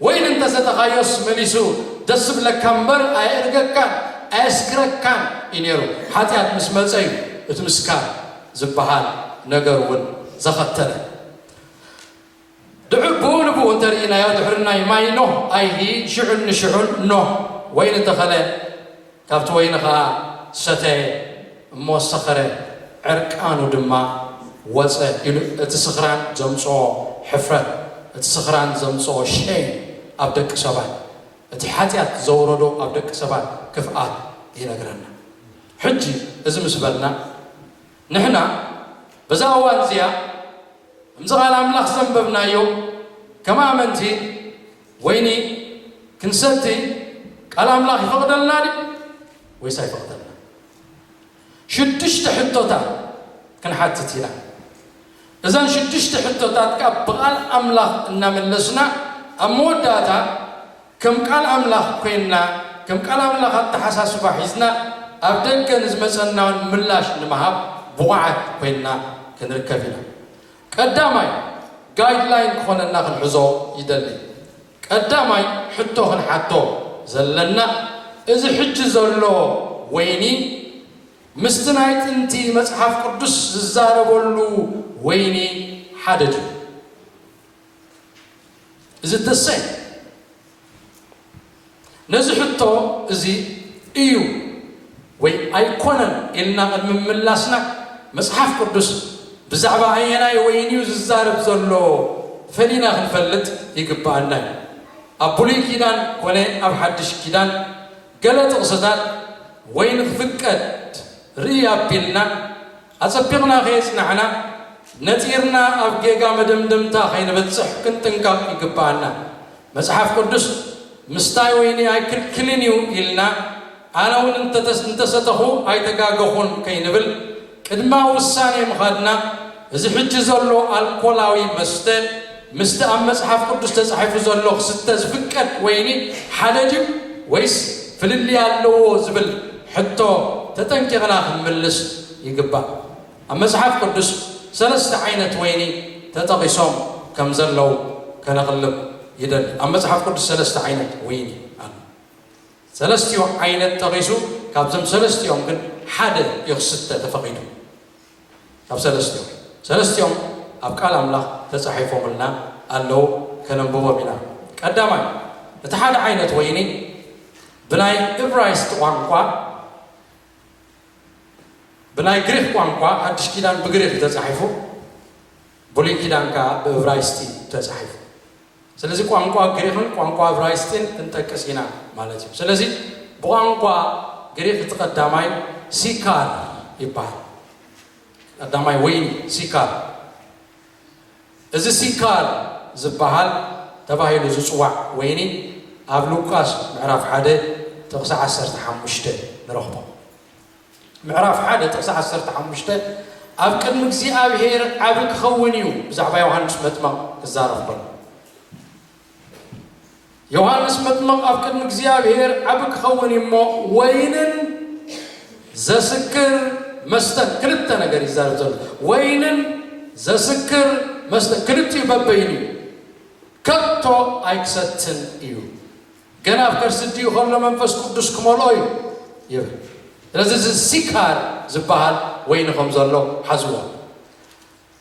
ወይን እንተሰተኻዮስ መሊሱ ደስብለካ እምበር ኣየእርገካን ኣየስክረካን እዩ ነይሩ። ሓጢኣት ምስ መጸ እዩ እቲ ምስካር ዝበሃል ነገር እውን ዘኸተለ። ድሑር ብኡ ንብኡ እንተርኢናዮ ድሕሪ ናይ ማይ ኖህ ኣይሂ ሽዑን ንሽዑን ኖህ ወይኒ ተኸለ፣ ካብቲ ወይኒ ኸኣ ሰተየ እሞ ሰኸረ፣ ዕርቃኑ ድማ ወጸ ኢሉ እቲ ስኽራን ዘምጽኦ ሕፍረት፣ እቲ ስኽራን ዘምጽኦ ሸይም ኣብ ደቂ ሰባት፣ እቲ ሓጢኣት ዘውረዶ ኣብ ደቂ ሰባት ክፍኣት ይነግረና። ሕጂ እዚ ምስ በልና ንሕና በዛ እዋን እዚኣ ከምዚ ቃል ኣምላኽ ዘንበብናዮ ከም ኣመንቲ ወይኒ ክንሰቲ ቃል ኣምላኽ ይፈቕደልና ድዩ ወይስ ኣይፈቕደልናን? ሽዱሽተ ሕቶታት ክንሓትት ኢና። እዘን ሽዱሽተ ሕቶታት ከኣ ብቓል ኣምላኽ እናመለስና ኣብ መወዳእታ ከም ቃል ኣምላኽ ኮይንና ከም ቃል ኣምላኽ ኣተሓሳስባ ሒዝና ኣብ ደገ ንዝመጸናውን ምላሽ ንምሃብ ብቑዓት ኮይንና ክንርከብ ኢና። ቀዳማይ ጋይድ ላይን ክኾነና ክንሕዞ ይደሊ። ቀዳማይ ሕቶ ክንሓቶ ዘለና እዚ ሕጂ ዘሎ ወይኒ ምስቲ ናይ ጥንቲ መጽሓፍ ቅዱስ ዝዛረበሉ ወይኒ ሓደ ድዩ? Is it the same? ነዚ ሕቶ እዚ እዩ ወይ ኣይኰነን ኢልና ቅድሚ ምምላስና፣ መጽሓፍ ቅዱስ ብዛዕባ ኣየናይ ወይኒ እዩ ዝዛረብ ዘሎ ፈሊና ኽንፈልጥ ይግብኣና እዩ። ኣብ ብሉይ ኪዳን ኰነ ኣብ ሓድሽ ኪዳን፣ ገለ ጥቕስታት ወይኒ ኽፍቀድ ርእይ ኣቢልና፣ ኣጸቢቕና ከየጽናዕና፣ ነጺርና ኣብ ጌጋ መደምደምታ ከይንበጽሕ ክንጥንቀቕ ይግብኣና። መጽሓፍ ቅዱስ፣ ምስታይ ወይኒ ኣይክልክልን እዩ ኢልና፣ ኣነውን እንተሰተኹ ኣይተጋገኹን ከይንብል ቅድመ-ውሳኔ ምኻድና፣ እዚ ሕጂ ዘሎ ኣልኮላዊ መስተ፣ ምስቲ ኣብ መጽሓፍ ቅዱስ ተጻሒፉ ዘሎ ክስተ ዝፍቀድ ወይኒ ሓደ ድዩ ወይስ ፍልልይ ኣለዎ ዝብል ሕቶ ተጠንቂቕና ክንምልስ ይግባእ። ኣብ መጽሓፍ ቅዱስ ሰለስተ ዓይነት ወይኒ ተጠቒሶም ከም ዘለዉ ከነቕልብ ይደሊ። ኣብ መጽሓፍ ቅዱስ ሰለስተ ዓይነት ወይኒ ኣሎ። ሰለስቲኡ ዓይነት ጠቒሱ ካብዞም ሰለስቲኦም ግን ሓደ እዩ ክስተ ተፈቒዱ። ኣብ ሰለስቲኦም ሰለስቲኦም ኣብ ቃል ኣምላኽ ተጻሒፎምልና ኣለዉ ከነንብቦም ኢና ቀዳማይ እቲ ሓደ ዓይነት ወይኒ ብናይ እብራይስጥ ቋንቋ ብናይ ግሪኽ ቋንቋ ሓድሽ ኪዳን ብግሪኽ እዩ ተጻሒፉ። ብሉይ ኪዳን ከኣ ብእብራይስጢ እዩ ተጻሒፉ። ስለዚ ቋንቋ ግሪኽን ቋንቋ እብራይስጢን ክንጠቅስ ኢና ማለት እዩ። ስለዚ ብቋንቋ ግሪኽ እቲ ቀዳማይ ሲካር ይበሃል። ቀዳማይ ወይኒ ሲካር። እዚ ሲካር ዝበሃል ተባሂሉ ዝጽዋዕ ወይኒ ኣብ ሉቃስ ምዕራፍ ሓደ ጥቕሲ ዓሰርተ ሓሙሽተ ንረኽቦ። ምዕራፍ ሓደ ጥቕሲ ዓሰርተ ሓሙሽተ ኣብ ቅድሚ እግዚኣብሄር ዓቢ ክኸውን እዩ ብዛዕባ ዮሃንስ መጥመቕ ክዛረብ ከሎ። ዮሃንስ መጥመቕ ኣብ ቅድሚ እግዚኣብሄር ዓቢ ክኸውን እዩ እሞ ወይንን ዘስክር መስተን ክልተ ነገር እዩ ዝዛረብ ዘሎ ወይንን ዘስክር መስተን ክልቲኡ በበይኑ እዩ ከቶ ኣይክሰትን እዩ ገና ኣብ ከርሲ እዲኡ ከሎ መንፈስ ቅዱስ ክመልኦ እዩ ይብል ስለዚ እዚ ሲካር ዝባሃል ወይኒ ከም ዘሎ ሓዝዎ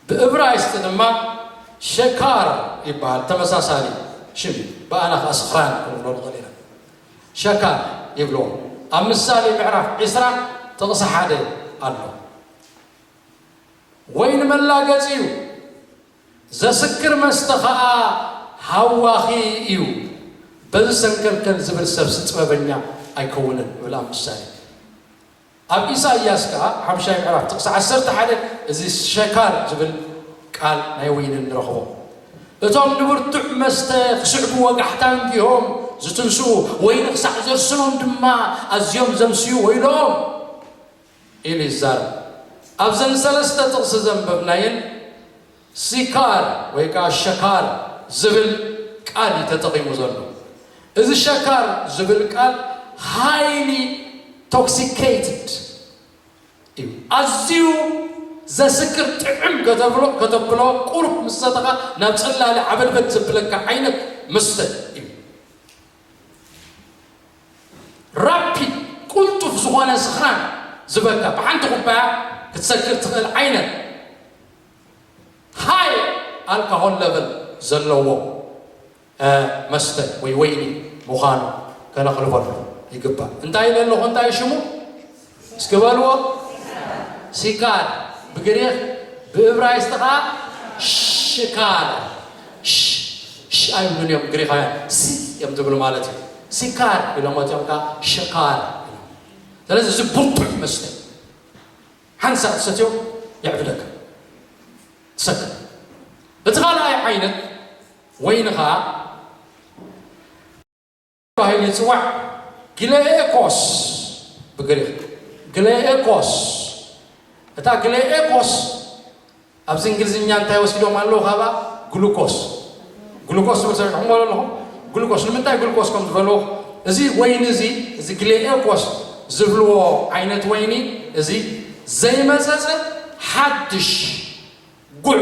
ብእብራይስጢ ድማ ሸካር ይባሃል ተመሳሳሊ ሽም እዩ ብኣና ከዓ ስክራን ክንብሎ ንኽእል ኢና ሸካር ይብልዎ ኣብ ምሳሌ ምዕራፍ ዕስራ ጥቕሲ ሓደ ኣሎ ወይኒ መላገፂ እዩ ዘስክር መስተ ከኣ ሃዋኺ እዩ። በዚ ሰንከልከል ዝብል ሰብሲ ጥበበኛ ኣይከውንን ይብል ኣብ ምሳሌ። ኣብ ኢሳይያስ ከኣ ሓምሻይ ምዕራፍ ጥቕሲ ዓሰርተ ሓደ እዚ ሸካር ዝብል ቃል ናይ ወይኒ ንረኽቦ። እቶም ንብርቱዕ መስተ ክስዕቡ ወጋሕታ እንዲሆም ዝትንስኡ፣ ወይኒ ክሳዕ ዘርስኖም ድማ ኣዝዮም ዘምስዩ ወይለኦም። ኢሉ ይዛረብ። ኣብዘን ሰለስተ ጥቕሲ ዘንበብናየን ሲካር ወይ ከኣ ሸካር ዝብል ቃል እዩ ተጠቒሙ ዘሎ። እዚ ሸካር ዝብል ቃል highly toxicated እዩ፣ ኣዝዩ ዘስክር ጥዕም ከተብሎ ከተብሎ ቁሩብ ምስ ሰተኻ ናብ ጽላለ ዓበድበድ ዘብለካ ዓይነት መስተ እዩ። Rapid፣ ቅልጡፍ ዝኾነ ስኽራን ዝበልካ ብሓንቲ ኩባያ ክትሰክር ትኽእል ዓይነት High Alcohol Level ዘለዎ መስተ ወይ ወይኒ ምዃኑ ከነቕልበሉ ይግባእ። እንታይ ኢለ ኣለኹ? እንታይ እዩ ሽሙ? እስኪ በልዎ ሲካር ብግሪኽ ብእብራይስጢ ኸኣ ሽካር ሽ ኣይብሉን እዮም ግሪኻውያን ሲ እዮም ዝብሉ ማለት እዩ ሲካር ኢሎሞ እቲኦም ከዓ ሽካር ስለዚ እዚ ብርቱዕ መስተ ሓንሳ ትሰትዮ የዕብደካ ትሰት እቲ ካልኣይ ዓይነት ወይኒ ከዓ ተባሂሉ ይጽዋዕ፣ ግሌኤኮስ፣ ብግሪኽ፣ ግሌኤኮስ፣ እታ ግሌኤኮስ ኣብዚ እንግሊዝኛ እንታይ ወሲዶም ኣለዉ ካባ ግሉኮስ ግሉኮስ ትብል ሰሚዕኩም በሎ ኣለኹም ግሉኮስ ንምንታይ ግሉኮስ ከም ዝበልዎ እዚ ወይኒ እዚ እዚ ግሌኤኮስ ዝብልዎ ዓይነት ወይኒ እዚ ዘይመፀፀ ሓድሽ ጉዕ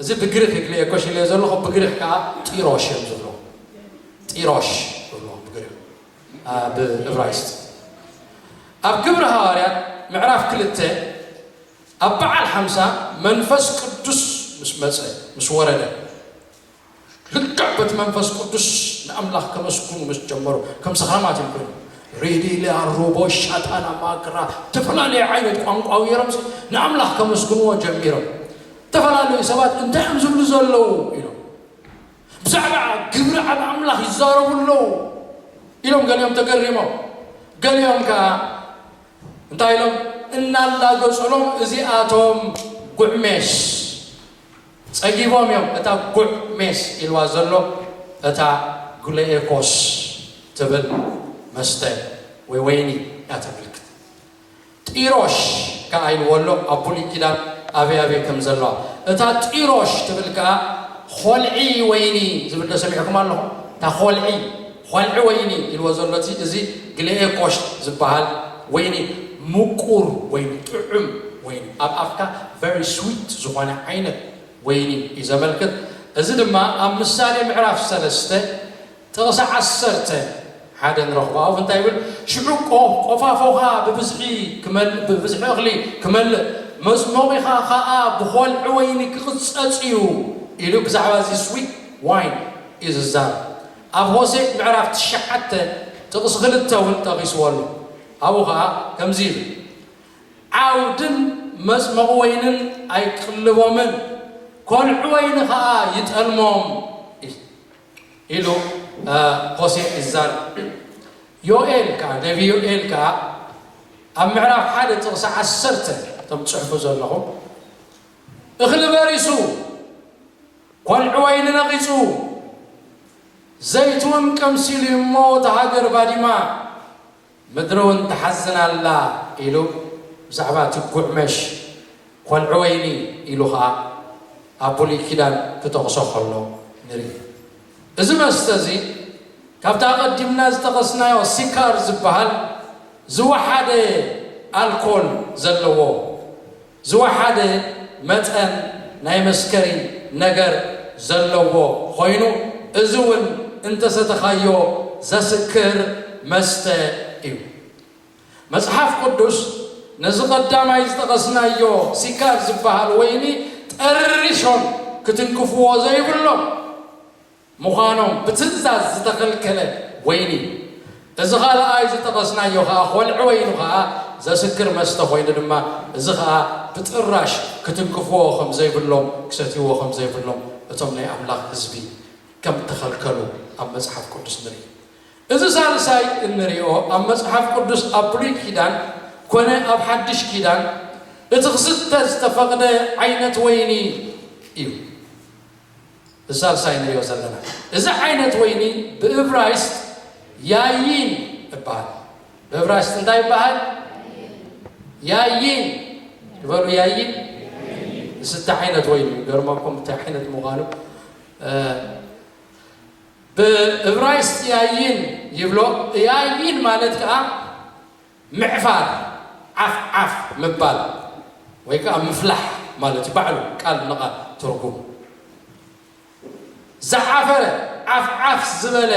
እዚ ብግሪኽ ይግልኤኮሽ ኢለዮ ዘለኹ ብግሪኽ ከኣ ጢሮሽ እዮም ዝብልዎ ጢሮሽ ይብልዎ ብግሪኽ ብእብራይስጥ ኣብ ግብሪ ሃዋርያት ምዕራፍ ክልተ ኣብ በዓል ሓምሳ መንፈስ ቅዱስ ምስ መጸ ምስ ወረደ ልክዕ በቲ መንፈስ ቅዱስ ንኣምላኽ ከመስግኑ ምስ ጀመሩ ከም ሰኽራማት እዮም ኮይኖም። ሪዲ፣ ሊያ፣ ሩቦ፣ ሻታና፣ ማክራ እተፈላለየ ዓይነት ቋንቋ ኣውይሮምሲ ንኣምላኽ ከመስግንዎ ጀሚሮም። እተፈላለዩ ሰባት እንታይ እዮም ዝብሉ ዘለዉ ኢሎም። ብዛዕባ ግብሪ ኣብ ኣምላኽ ይዛረቡ ኣለዉ ኢሎም ገሊኦም ተገሪሞም። ገሊኦም ከኣ እንታይ ኢሎም እናላገጹሎም እዚኣቶም ጉዕሜስ ጸጊቦም እዮም እታ ጉዕ ሜስ ኢልዋ ዘሎ እታ ግሉኤኮስ ትብል መስተ ወይ ወይኒ እያ ተመልክት። ጢሮሽ ከኣ ኢልዎ ኣሎ ኣብ ብሉይ ኪዳን ኣበይ ኣበይ ከም ዘለዋ። እታ ጢሮሽ ትብል ከኣ ኾልዒ ወይኒ ዝብል ዶ ሰሚዕኩም ኣለኹም እታ ኾልዒ። ኾንዒ ወይኒ ኢልዎ ዘሎ እቲ እዚ ግሌኤ ኮሽት ዝባሃል ወይኒ ሙቁር ወይኒ ጥዑም ወይኒ ኣብ ኣፍካ very sweet ዝኾነ ዓይነት ወይኒ እዩ ዘመልክት እዚ ድማ ኣብ ምሳሌ ምዕራፍ ሰለስተ ጥቕሲ ዓሰርተ ሓደ ንረኽቦ ኣኡ እንታይ ይብል ሽዑ ቆፋፎኻ ብብዝሒ ክመልእ ብብዝሒ እኽሊ ክመልእ መጽሞቒኻ ኸኣ ብኾንዒ ወይኒ ክቕጸጽ እዩ ኢሉ ብዛዕባ እዚ sweet wine እዩ ዝዛረብ ኣብ ሆሴእ ምዕራፍ ትሽዓተ ጥቕሲ ክልተ እውን ጠቒስዎ ኣሎ። ኣብኡ ኸኣ ከምዚ ይብል፣ ዓውድን መጽመቝ ወይንን ኣይቅልቦምን፣ ኰልዑ ወይኒ ኸኣ ይጠልሞም ኢሉ ሆሴእ ይዛረብ። ዮኤል ከኣ፣ ነብዪ ዮኤል ከኣ ኣብ ምዕራፍ ሓደ ጥቕሲ ዓሰርተ፣ እቶም ትጽሕፉ ዘለኹም፣ እኽሊ በሪሱ፣ ቆልዕወይ ንነቒጹ ዘይትውን ቀምሲሉ እዩ እሞ እታ ሃገር ባዲማ ምድሪውን ትሓዝን ኣላ ኢሉ ብዛዕባ እቲ ጉዕመሽ ቆልዕወይኒ ኢሉ ኸኣ ኣብ ብሉይ ኪዳን ክጠቕሶ ከሎ ንርኢ። እዚ መስተ እዚ ካብቲ ኣቐዲምና ዝጠቐስናዮ ሲካር ዝበሃል ዝወሓደ ኣልኮል ዘለዎ፣ ዝወሓደ መጠን ናይ መስከሪ ነገር ዘለዎ ኾይኑ እዚ ውን እንተሰተኻዮ ዘስክር መስተ እዩ። መጽሓፍ ቅዱስ ነዚ ቀዳማይ ዝጠቐስናዮ ሲካር ዝበሃል ወይኒ ጠርሾን ክትንክፍዎ ዘይብሎም ምዃኖም ብትእዛዝ ዝተኸልከለ ወይኒ እዩ። እዚ ካልኣይ ዝጠቐስናዮ ከኣ ኾልዒ ወይኑ ከኣ ዘስክር መስተ ኮይኑ ድማ እዚ ከኣ ብጥራሽ ክትንክፍዎ ከም ዘይብሎም ክሰትይዎ ከም ዘይብሎም እቶም ናይ ኣምላኽ ህዝቢ ከም እተኸልከሉ ኣብ መጽሓፍ ቅዱስ ንርኢ። እዚ ሳልሳይ እንሪኦ ኣብ መጽሓፍ ቅዱስ ኣብ ብሉይ ኪዳን ኮነ ኣብ ሓድሽ ኪዳን እቲ ክስተ ዝተፈቕደ ዓይነት ወይኒ እዩ። ብሳልሳይ ንሪኦ ዘለና እዚ ዓይነት ወይኒ ብእብራይስጥ ያይን እባሃል ብእብራይስጥ እንታይ እባሃል ያይን ግበሩ ያይን ዝስተ ዓይነት ወይኒ እዩ ገርመኩም እንታይ ዓይነት ምዃኑ ብእብራይስጥ ያይን ይብሎ ያይን ማለት ከዓ ምዕፋር፣ ዓፍ ዓፍ ምባል ወይ ከኣ ምፍላሕ ማለት እዩ ባዕሉ ቃል ንቓል ትርጉሙ። ዝዓፈረ፣ ዓፍ ዓፍ ዝበለ፣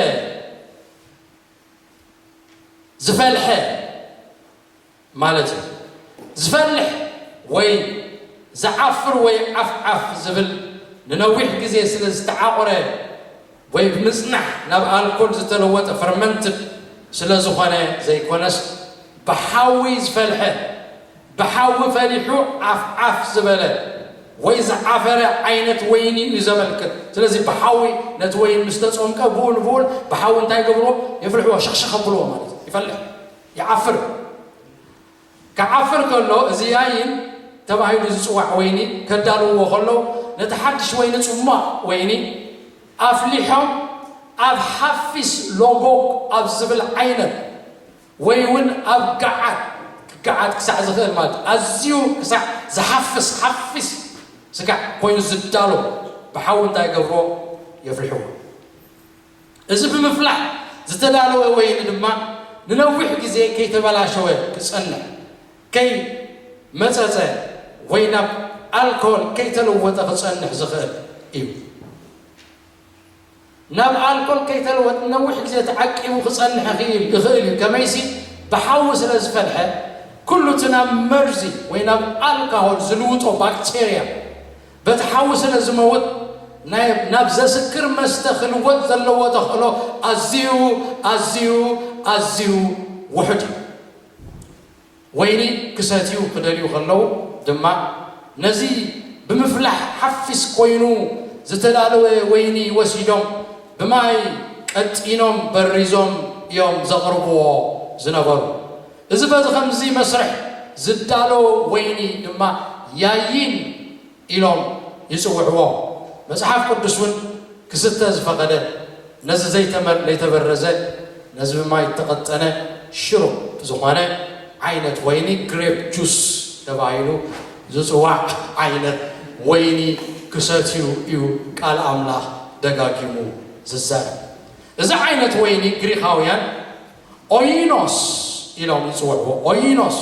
ዝፈልሐ ማለት እዩ። ዝፈልሕ ወይ ዝዓፍር ወይ ዓፍ ዓፍ ዝብል ንነዊሕ ግዜ ስለ ዝተዓቑረ፣ ወይ ብምጽናሕ ናብ ኣልኮል ዝተለወጠ፣ ፈርመንትድ፣ ስለ ዝኾነ ዘይኮነስ ብሓዊ ዝፈልሐ፣ ብሓዊ ፈሊሑ ዓፍ ዓፍ ዝበለ ወይ ዝዓፈረ ዓይነት ወይኒ እዩ ዘመልክት። ስለዚ ብሓዊ ነቲ ወይኒ ምስ ተጾምቀ ብኡ ንብኡን ብሓዊ እንታይ ይገብርዎ? የፍልሕዎ፣ ሸኽሸኽ ኣብልዎ ማለት እዩ። ይፈልሕ፣ ይዓፍር። ክዓፍር ከሎ እዚ ያይን ተባሂሉ ዝጽዋዕ ወይኒ ከዳልውዎ ከለው ነቲ ሓድሽ ወይኒ ጽሟቕ ወይኒ ኣፍሊሖም ኣብ ሓፊስ ሎጎግ ኣብ ዝብል ዓይነት ወይውን ኣብ ገዓት ክገዓት ክሳዕ ዝኽእል ማለት ኣዝዩ ክሳዕ ዝሓፍስ ሓፊስ ስጋዕ ኮይኑ ዝዳሎ ብሓዊ እንታይ ይገብርዎ የፍልሕዎ። እዚ ብምፍላሕ ዝተዳለወ ወይኒ ድማ ንነዊሕ ግዜ ከይተበላሸወ ክጸንሕ፣ ከይ መጸጸ ወይ ናብ ኣልኮል ከይተለወጠ ክጸንሕ ዝኽእል እዩ። ናብ ኣልኮል ከይተለወጥ ንነዊሕ ግዜ ተዓቂቡ ክጸንሕ ይኽእል እዩ፣ ከመይሲ ብሓዊ ስለ ዝፈልሐ ኩሉ እቲ ናብ መርዚ ወይ ናብ ኣልካሆል ዝልውጦ ባክተርያ፣ በቲ ሓዊ ስለ ዝመውት ናይ ናብ ዘስክር መስተ ክልወጥ ዘለዎ ተኽእሎ ኣዝዩ ኣዝዩ ኣዝዩ ውሑድ እዩ። ወይኒ ክሰትዩ ክደልዩ ከለዉ ድማ ነዚ ብምፍላሕ ሓፊስ ኮይኑ ዝተዳለወ ወይኒ ወሲዶም ብማይ ቀጢኖም በሪዞም እዮም ዘቕርብዎ ዝነበሩ። እዚ በዚ ኸምዚ መስርሕ ዝዳሎ ወይኒ ድማ ያይን ኢሎም ይጽውዕዎ። መጽሓፍ ቅዱስ እውን ክስተ ዝፈቐደ ነዚ ዘይተበረዘ ነዚ ብማይ እተቐጠነ ሽሩፕ ዝኾነ ዓይነት ወይኒ ግሬፕ ጁስ ተባሂሉ ዝጽዋዕ ዓይነት ወይኒ ክሰትዩ እዩ ቃል ኣምላኽ ደጋጊሙ ዝዛረብ። እዚ ዓይነት ወይኒ ግሪኻውያን ኦይኖስ ኢሎም ይጽውዕዎ፣ ኦይኖስ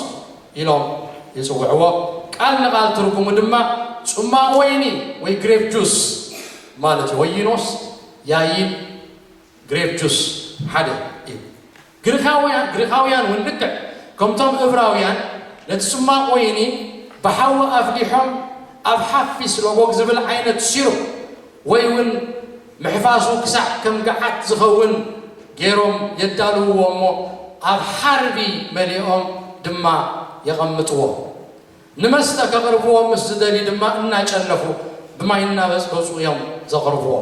ኢሎም ይጽውዕዎ፣ ቃል ንቓል ትርጉሙ ድማ ጽሟቕ ወይኒ ወይ ግሬፕ ጁስ ማለት እዩ። ኦይኖስ ያይን ግሬፕ ጁስ ሓደ እዩ። ግሪኻውያን ግሪኻውያን እውን ልክዕ ከምቶም እብራውያን ነቲ ጽሟቕ ወይኒ ብሓዊ ኣፍሊሖም ኣብ ሓፊስ ሎጎግ ዝብል ዓይነት ሲሩፕ ወይ ውን ምሕፋሱ ክሳዕ ከም ገዓት ዝኸውን ገይሮም የዳልውዎ እሞ ኣብ ሓርቢ መሊኦም ድማ የቐምጥዎ። ንመስተ ከቕርብዎ ምስ ዝደልዩ ድማ እናጨለፉ ብማይ እናበጽበጹ እዮም ዘቕርብዎ።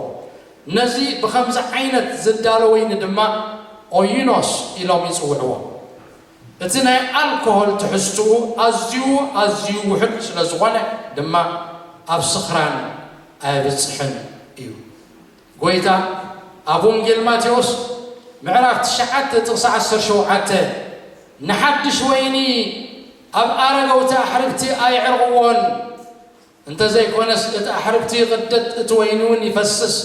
ነዚ ብኸምዚ ዓይነት ዝዳሎ ወይኒ ድማ ኦይኖስ ኢሎም ይጽውዕዎ። እቲ ናይ ኣልኮሆል ትሕዝትኡ ኣዝዩ ኣዝዩ ውሑድ ስለ ዝኾነ ድማ ኣብ ስኽራን ኣየብጽሕን እዩ። ጎይታ ኣብ ወንጌል ማቴዎስ ምዕራፍ ትሽዓተ ጥቕሲ ዓሰርተ ሸውዓተ ንሓድሽ ወይኒ ኣብ ኣረገውቲ ኣሕርግቲ ኣየዕርቕዎን፣ እንተ ዘይኮነስ እቲ ኣሕርብቲ ይቕደድ፣ እቲ ወይኒውን ይፈስስ፣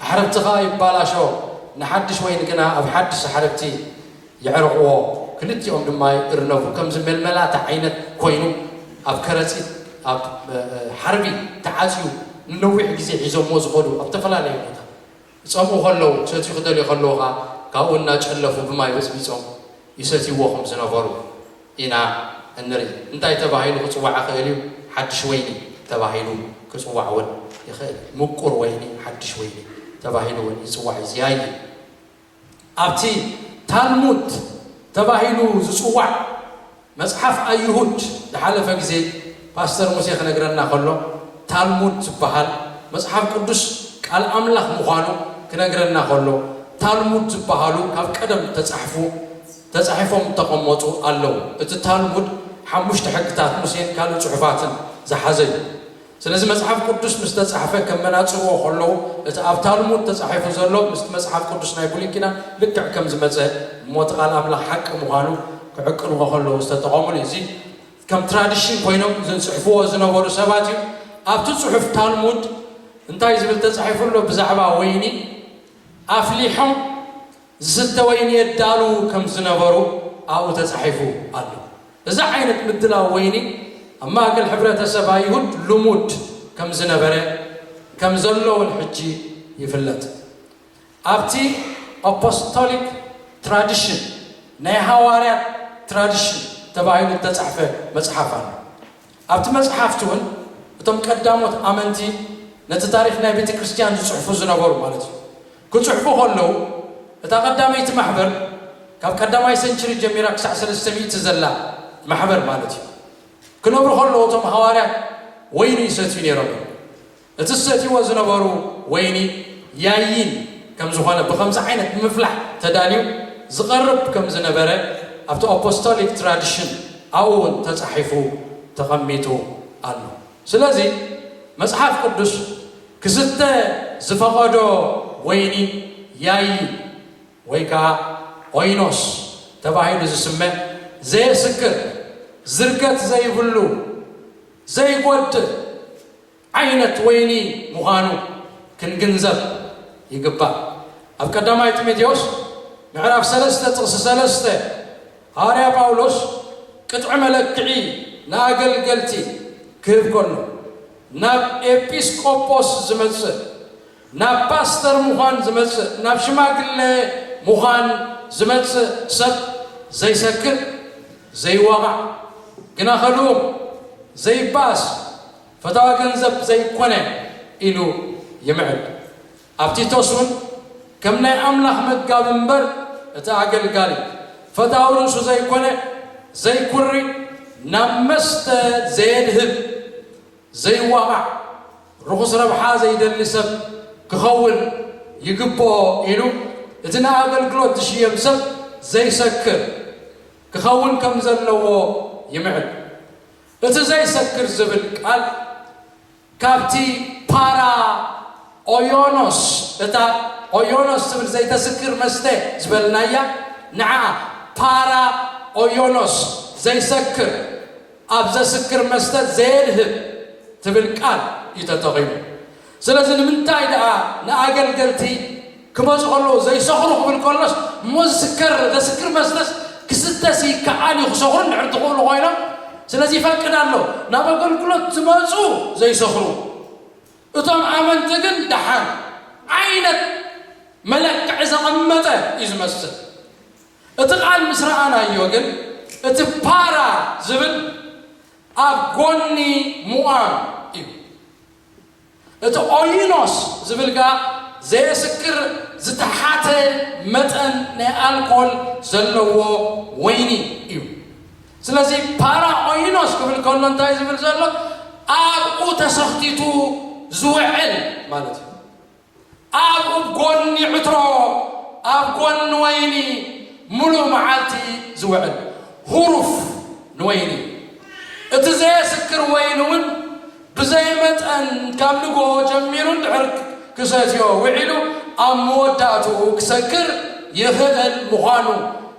ኣሕርብቲ ኸኣ ይባላሾ፣ ንሓድሽ ወይኒ ግና ኣብ ሓድሽ ኣሕርብቲ የዕርቕዎ፣ ክልቲኦም ድማ ይእርነቡ፣ ከምዚ መልመላታ ዓይነት ኮይኑ ኣብ ከረጺት፣ ኣብ ሓርቢ፣ ተዓጽዩ ንነዊሕ ግዜ ሒዞምዎ ዝኸዱ ኣብ ተፈላለየ ቦታ። ክጸምኡ ከለዉ ክሰትዩ ክደልዩ ከለዉ ከኣ ካብኡ እናጨለፉ ብማይ በጽቢጾም ይሰትይዎ ከም ዝነበሩ ኢና እንርኢ። እንታይ ተባሂሉ ክጽዋዕ ይኽእል እዩ? ሓድሽ ወይኒ ተባሂሉ ክጽዋዕ እውን ይኽእል። ምቁር ወይኒ፣ ሓድሽ ወይኒ ተባሂሉ እውን ይጽዋዕ እዩ። ዚያዪ ኣብቲ ታልሙድ ተባሂሉ ዝጽዋዕ መጽሓፍ ኣይሁድ ዝሓለፈ ግዜ ፓስተር ሙሴ ክነግረና ከሎ ታልሙድ ዝብሃል መጽሓፍ ቅዱስ ቃል ኣምላኽ ምዃኑ ክነግረና ከሎ ታልሙድ ዝብሃሉ ካብ ቀደም እተጻሕፉ ተጻሒፎም እተቐመጡ ኣለዉ እቲ ታልሙድ ሓሙሽተ ሕግታት ሙሴን ካልእ ጽሑፋትን ዝሓዘ እዩ ስለዚ መጽሓፍ ቅዱስ ምስ ተጻሕፈ ከመናጽርዎ ከለዉ እቲ ኣብ ታልሙድ ተጻሒፉ ዘሎ ምስቲ መጽሓፍ ቅዱስ ናይ ብሉይ ኪዳን ልክዕ ከም ዝመጸ እሞ እቲ ቃል ኣምላኽ ሓቂ ምዃኑ ክዕቅንዎ ከለዉ ዝተጠቐምሉ እዩ እዚ ከም ትራዲሽን ኮይኖም ዝጽሕፍዎ ዝነበሩ ሰባት እዩ ኣብቲ ጽሑፍ ታልሙድ እንታይ ዝብል ተጻሒፉ ኣሎ ብዛዕባ ወይኒ ኣፍሊሖም ዝስተ ወይኒ የዳልዉ ከም ዝነበሩ ኣብኡ ተጻሒፉ ኣሎ። እዚ ዓይነት ምድላው ወይኒ ኣብ ማእከል ሕብረተሰብ ኣይሁድ ልሙድ ከም ዝነበረ ከም ዘሎ እውን ሕጂ ይፍለጥ። ኣብቲ ኣፖስቶሊክ ትራዲሽን፣ ናይ ሃዋርያት ትራዲሽን፣ ተባሂሉ እተጻሕፈ መጽሓፍ ኣሎ። ኣብቲ መጽሓፍቲ ውን እቶም ቀዳሞት ኣመንቲ ነቲ ታሪኽ ናይ ቤተክርስትያን ዝጽሕፉ ዝነበሩ ማለት እዩ ክጽሕፉ ከለዉ እታ ቀዳመይቲ ማሕበር ካብ ቀዳማይ ሰንችሪ ጀሚራ ክሳዕ ሰለስተ ሚእቲ ዘላ ማሕበር ማለት እዩ ክነብሩ ከለዉ እቶም ሃዋርያት ወይኒ ይሰትዩ ነይሮም እዮም። እቲ ዝሰትይዎ ዝነበሩ ወይኒ ያይን ከም ዝኾነ ብኸምዚ ዓይነት ብምፍላሕ ተዳልዩ ዝቐርብ ከም ዝነበረ ኣብቲ ኣፖስቶሊክ ትራዲሽን ኣብኡውን ተጻሒፉ ተቐሚጡ ኣሎ። ስለዚ መጽሓፍ ቅዱስ ክስተ ዝፈቐዶ ወይኒ ያይን ወይ ከኣ ኦይኖስ ተባሂሉ ዝስመ ዘየስክር፣ ዝርገት ዘይብሉ፣ ዘይጎድእ፣ ዓይነት ወይኒ ምዃኑ ክንግንዘብ ይግባእ። ኣብ ቀዳማይ ጢሞቴዎስ ምዕራፍ ሰለስተ ጥቕሲ ሰለስተ፣ ሃዋርያ ጳውሎስ ቅጥዒ መለክዒ ንኣገልገልቲ ክህብ ከሎ፣ ናብ ኤጲስ ቆጶስ ዝመጽእ፣ ናብ ፓስተር ምዃን ዝመጽእ፣ ናብ ሽማግለ ምዃን ዝመጽእ ሰብ ዘይሰክር፣ ዘይዋቓዕ፣ ግና ከልኡም፣ ዘይበኣስ፣ ፈታዊ ገንዘብ ዘይኰነ ኢሉ ይምዕድ። ኣብ ቲቶስ እውን ከም ናይ ኣምላኽ መጋቢ እምበር እቲ ኣገልጋሊ ፈታዊ ርእሱ ዘይኰነ፣ ዘይኵሪ፣ ናብ መስተ ዘየድህብ፣ ዘይዋቓዕ፣ ርኹስ ረብሓ ዘይደሊ ሰብ ክኸውን ይግብኦ ኢሉ እቲ ንኣገልግሎት ዝሽየም ሰብ ዘይሰክር ክኸውን ከም ዘለዎ ይምዕድ። እቲ ዘይሰክር ዝብል ቃል ካብቲ ፓራ ኦዮኖስ፣ እታ ኦዮኖስ ትብል ዘይተስክር መስተ ዝበልናያ ንዓ ፓራ ኦዮኖስ፣ ዘይሰክር፣ ኣብ ዘስክር መስተ ዘየድህብ ትብል ቃል እዩ ተጠቒሙ። ስለዚ ንምንታይ ደኣ ንኣገልገልቲ ክመጹ ከለዉ ዘይሰኽሩ ክብል ከሎስ እሞ ዝስከር ዘስክር መስተስ ክስተስ ይከኣል እዩ ክሰኽሩ እንድሕር ዝኽእሉ ኮይኖም ስለዚ ይፈቅድ ኣሎ ናብ ኣገልግሎት ዝመጹ ዘይሰኽሩ እቶም ኣመንቲ ግን ደሓን ዓይነት መለክዒ ዘቐመጠ እዩ ዝመስል እቲ ቃል ምስ ረኣናዮ ግን እቲ ፓራ ዝብል ኣብ ጎኒ ሙኣም እዩ። እቲ ኦይኖስ ዝብል ግኣ ዘየስክር ዝተሓተ መጠን ናይ ኣልኮል ዘለዎ ወይኒ እዩ። ስለዚ ፓራ ኦይኖስ ክብል ከሎ እንታይ ዝብል ዘሎ ኣብኡ ተሰኽቲቱ ዝውዕል ማለት እዩ። ኣብ ጎኒ ዕትሮ፣ ኣብ ጎኒ ወይኒ ምሉእ መዓልቲ ዝውዕል ሁሩፍ ንወይኒ እዩ። እቲ ዘየስክር ወይኒ እውን ብዘይ መጠን ካብ ንግሆ ጀሚሩ እንድሕር ክሰትዮ ውዒሉ ኣብ መወዳእትኡ ክሰክር ይኽእል ምዃኑ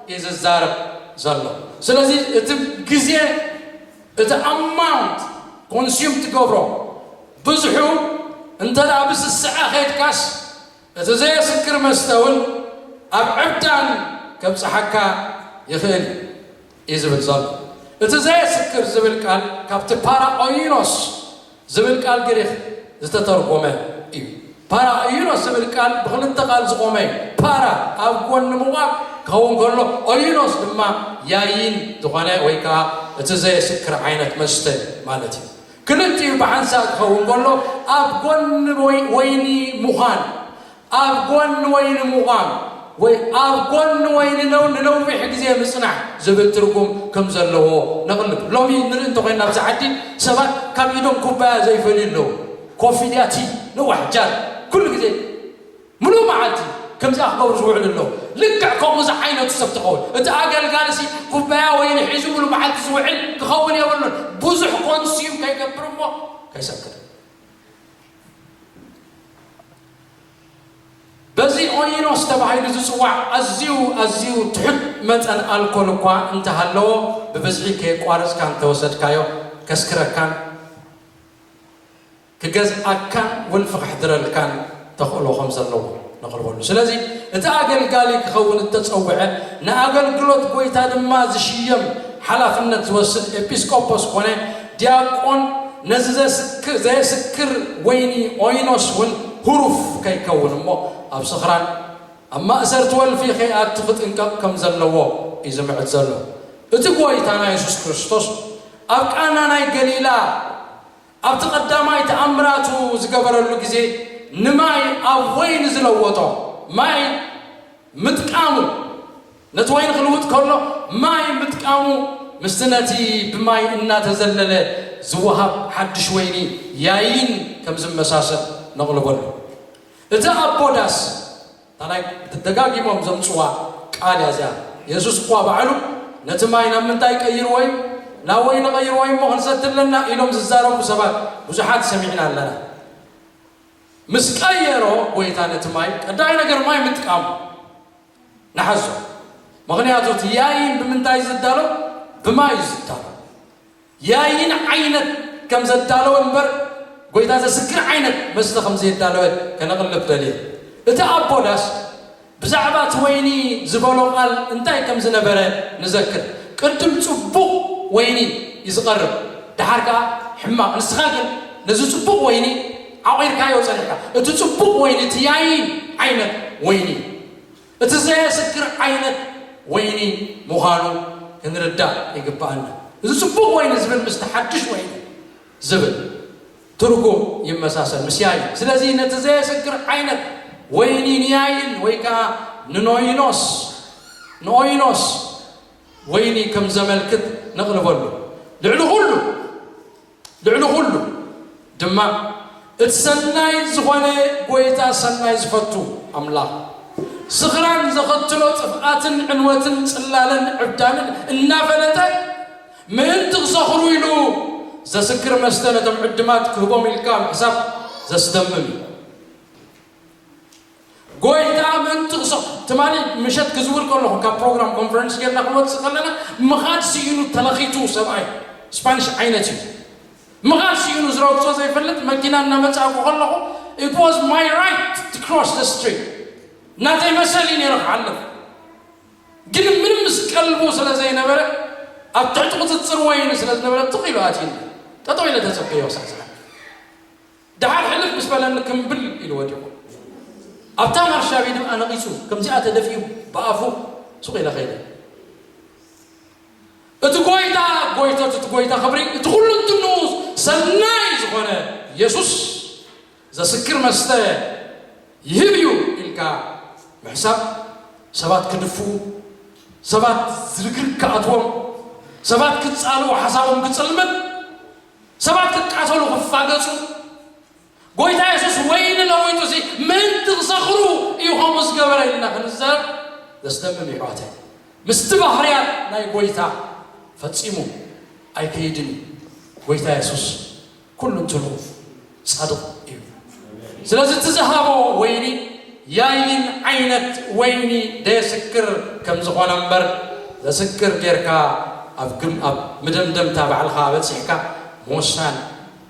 እዩ ዝዛረብ ዘሎ። ስለዚ እቲ ግዜ እቲ ኣማውንት ኮንስዩም ትገብሮ ብዝሑ እንተ ብስስዐ ከድካስ እቲ ዘየስክር መስተ ውን ኣብ ዕብዳን ከብጽሓካ ይኽእል እዩ እዩ ዝብል ዘሎ እቲ ዘየስክር ዝብል ቃል ካብቲ ፓራኦይኖስ ዝብል ቃል ግሪኽ ዝተተርጎመ እዩ። ፓራ ኦዩኖስ ዝብል ቃል ብኽልተ ቃል ዝቖመ እዩ። ፓራ ኣብ ጎኒ ምቛም ክኸውን ከሎ ኦዩኖስ ድማ ያይን ዝኾነ ወይ ከኣ እቲ ዘየስክር ዓይነት መስተ ማለት እዩ። ክልቲኡ ብሓንሳእ ክኸውን ከሎ ኣብ ጎኒ ወይኒ ምዃን ኣብ ጎኒ ወይኒ ምቛም ወይ ኣብ ጎኒ ወይኒ ን ንነዊሕ ግዜ ምጽናሕ ዝብል ትርጉም ከም ዘለዎ ነቕልብ። ሎሚ ንርኢ እንተ ኾይና ኣብዚ ዓዲ ሰባት ካብ ኢዶም ኩባያ ዘይፈልዩ ኣለዉ። ኮፊ ድያ ቲ ንዋሕ ጃር ኩሉ ግዜ ምሉእ መዓልቲ ከምዚኣ ክገብሩ ዝውዕሉ ኣለዉ። ልክዕ ከምኡ ዝዓይነቱ ሰብ ትኸውን። እቲ ኣገልጋሊ ሲ ኩባያ ወይኒ ሒዙ ምሉእ መዓልቲ ዝውዕል ክኸውን የብሉን። ብዙሕ ኮንስዩም ከይገብር እሞ ከይሰክር። በዚ ኦይኖስ ተባሂሉ ዝጽዋዕ ኣዝዩ ኣዝዩ ትሑት መጠን ኣልኮል እኳ እንተ ሃለዎ፣ ብብዝሒ ከየቋረጽካ እንተ ወሰድካዮ ከስክረካን ክገዝኣካን ውን ፍኽሕድረልካን ተኽእሎ ከም ዘለዎ ነቕርበሉ። ስለዚ እቲ ኣገልጋሊ ክኸውን እተጸውዐ፣ ንኣገልግሎት ጐይታ ድማ ዝሽየም ሓላፍነት ዝወስድ ኤጲስቆጶስ ኰነ ዲያቆን ነዚ ዘስክ ዘየስክር ወይኒ ኦይኖስ እውን ህሩፍ ከይከውን እሞ ኣብ ስኽራን ኣብ ማእሰርቲ ወልፊ ከይኣቱ ክጥንቀቕ ከም ዘለዎ እዩ ዝምዕድ ዘሎ። እቲ ጐይታና የሱስ ክርስቶስ ኣብ ቃና ናይ ገሊላ ኣብቲ ቀዳማይ ተኣምራቱ ዝገበረሉ ግዜ ንማይ ኣብ ወይኒ ዝለወጦ ማይ ምጥቃሙ ነቲ ወይኒ ክልውጥ ከሎ ማይ ምጥቃሙ ምስቲ ነቲ ብማይ እናተዘለለ ዝወሃብ ሓድሽ ወይኒ ያይን ከም ዝመሳሰል ነቕልበሉ። እቲ ኣቦ ዳስ እታ ናይ ደጋጊሞም ዘምጽዋ ቃል እያ እዚኣ። የሱስ እኳ ባዕሉ ነቲ ማይ ናብ ምንታይ ቀይርዎ እዩ? ናብ ወይኒ ቀይርዎ እዩ እሞ ክንሰቲ ኣለና ኢሎም ዝዛረቡ ሰባት ብዙሓት ሰሚዕና ኣለና። ምስ ቀየሮ ጎይታ ነቲ ማይ ቀዳማይ ነገር ማይ ምጥቃሙ ንሓዞ። ምኽንያቱ እቲ ያይን ብምንታይ እዩ ዝዳሎ? ብማይ እዩ ዝዳሎ። ያይን ዓይነት ከም ዘዳለወ እምበር ጎይታ ዘስክር ዓይነት መስተ ከም ዘየዳለወ ከነቕልብ ደልየ። እቲ ኣቦ ዳስ ብዛዕባ እቲ ወይኒ ዝበሎ ቃል እንታይ ከም ዝነበረ ንዘክር፣ ቅድም ጽቡቕ ወይኒ እዩ ዝቐርብ፣ ደሓር ከኣ ሕማቕ፣ ንስኻ ግን ነዚ ጽቡቕ ወይኒ ዓቚርካዮ ጸኒሕካ። እቲ ጽቡቕ ወይኒ እቲ ያይን ዓይነት ወይኒ እዩ። እቲ ዘየስክር ዓይነት ወይኒ ምዃኑ ክንርዳእ ይግብኣና። እዚ ጽቡቕ ወይኒ ዝብል ምስቲ ሓድሽ ወይኒ ዝብል ትርጉም ይመሳሰል፣ ምስ ያይን። ስለዚ ነቲ ዘየስክር ዓይነት ወይኒ ንያይን ወይ ከኣ ንኖይኖስ፣ ንኦይኖስ፣ ወይኒ ከም ዘመልክት ነቕርበሉ። ልዕሊ ኹሉ። ልዕሊ ኹሉ ድማ እቲ ሰናይ ዝኾነ ጎይታ ሰናይ ዝፈቱ ኣምላኽ ስኽራን ዘኸትሎ ጥፍኣትን ዕንወትን ጽላለን ዕብዳንን እናፈለጠ ምእንቲ ክሰኽሩ ኢሉ ዘስክር መስተ ነቶም ዕድማት ክህቦም ኢልካ ምሕሳብ ዘስደምም እዩ። ጐይታ ምእንቲ ክሰፍ ትማሊ ምሸት ክዝውር ከለኹ ካብ ፕሮግራም ኮንፈረንስ ጌርና ክንወጽእ ከለና ምኻድ ስኢኑ ተለኺቱ ሰብኣይ ስፓኒሽ ዓይነት እዩ ምኻድ ስኢኑ ዝረግጾ ዘይፈልጥ መኪና እናመጻእኩ ከለኹ it was my right to cross the street ናተይ መሰል እዩ ነይሩ ክሓልፍ ግን ምንም ምስ ቀልቡ ስለ ዘይነበረ ኣብ ትሕቲ ቁፅፅር ወይኒ ስለ ዝነበረ ትኽ ኢሉ ኣትዩኒ ጠጠው ኢለ ተፀበዮ ክሳዕ ደሓር ሕልፍ ምስ በለኒ ክምብል ኢሉ ወዲቑ። ኣብታ ማርሻቤ ድማ ነቒጹ ከምዚኣ ተደፊኡ ብኣፉ ሱቕ ኢለ ከይደ። እቲ ጎይታ ጎይቶት እቲ ጎይታ ክብሪ እቲ ኩሉ እንትንኡ ሰናይ ዝኾነ የሱስ ዘስክር መስተ ይህብ እዩ ኢልካ ምሕሳብ ሰባት ክድፍኡ ሰባት ዝርግርግ ክኣትዎም ሰባት ክጻልኡ ሓሳቦም ክጽልምን ሰባት ክቃተሉ ክፋገጹ ጎይታ የሱስ ወይኒ ለዊጡ ሲ ምእንቲ ክሰኽሩ እዩ ከምኡ ዝገበረ ኢልና ክንዛረብ ዘስደምም እዩ ኣሕዋተይ ምስቲ ባህርያት ናይ ጎይታ ፈጺሙ ኣይከይድን እዩ ጎይታ የሱስ ኩሉ እንትኑ ጻድቕ እዩ። ስለዚ እቲ ዝሃቦ ወይኒ ያይን ዓይነት ወይኒ ደየስክር ከም ዝኾነ እምበር ዘስክር ጌርካ ኣብ ግም ኣብ ምደምደምታ ባዕልኻ በጺሕካ ምውሳን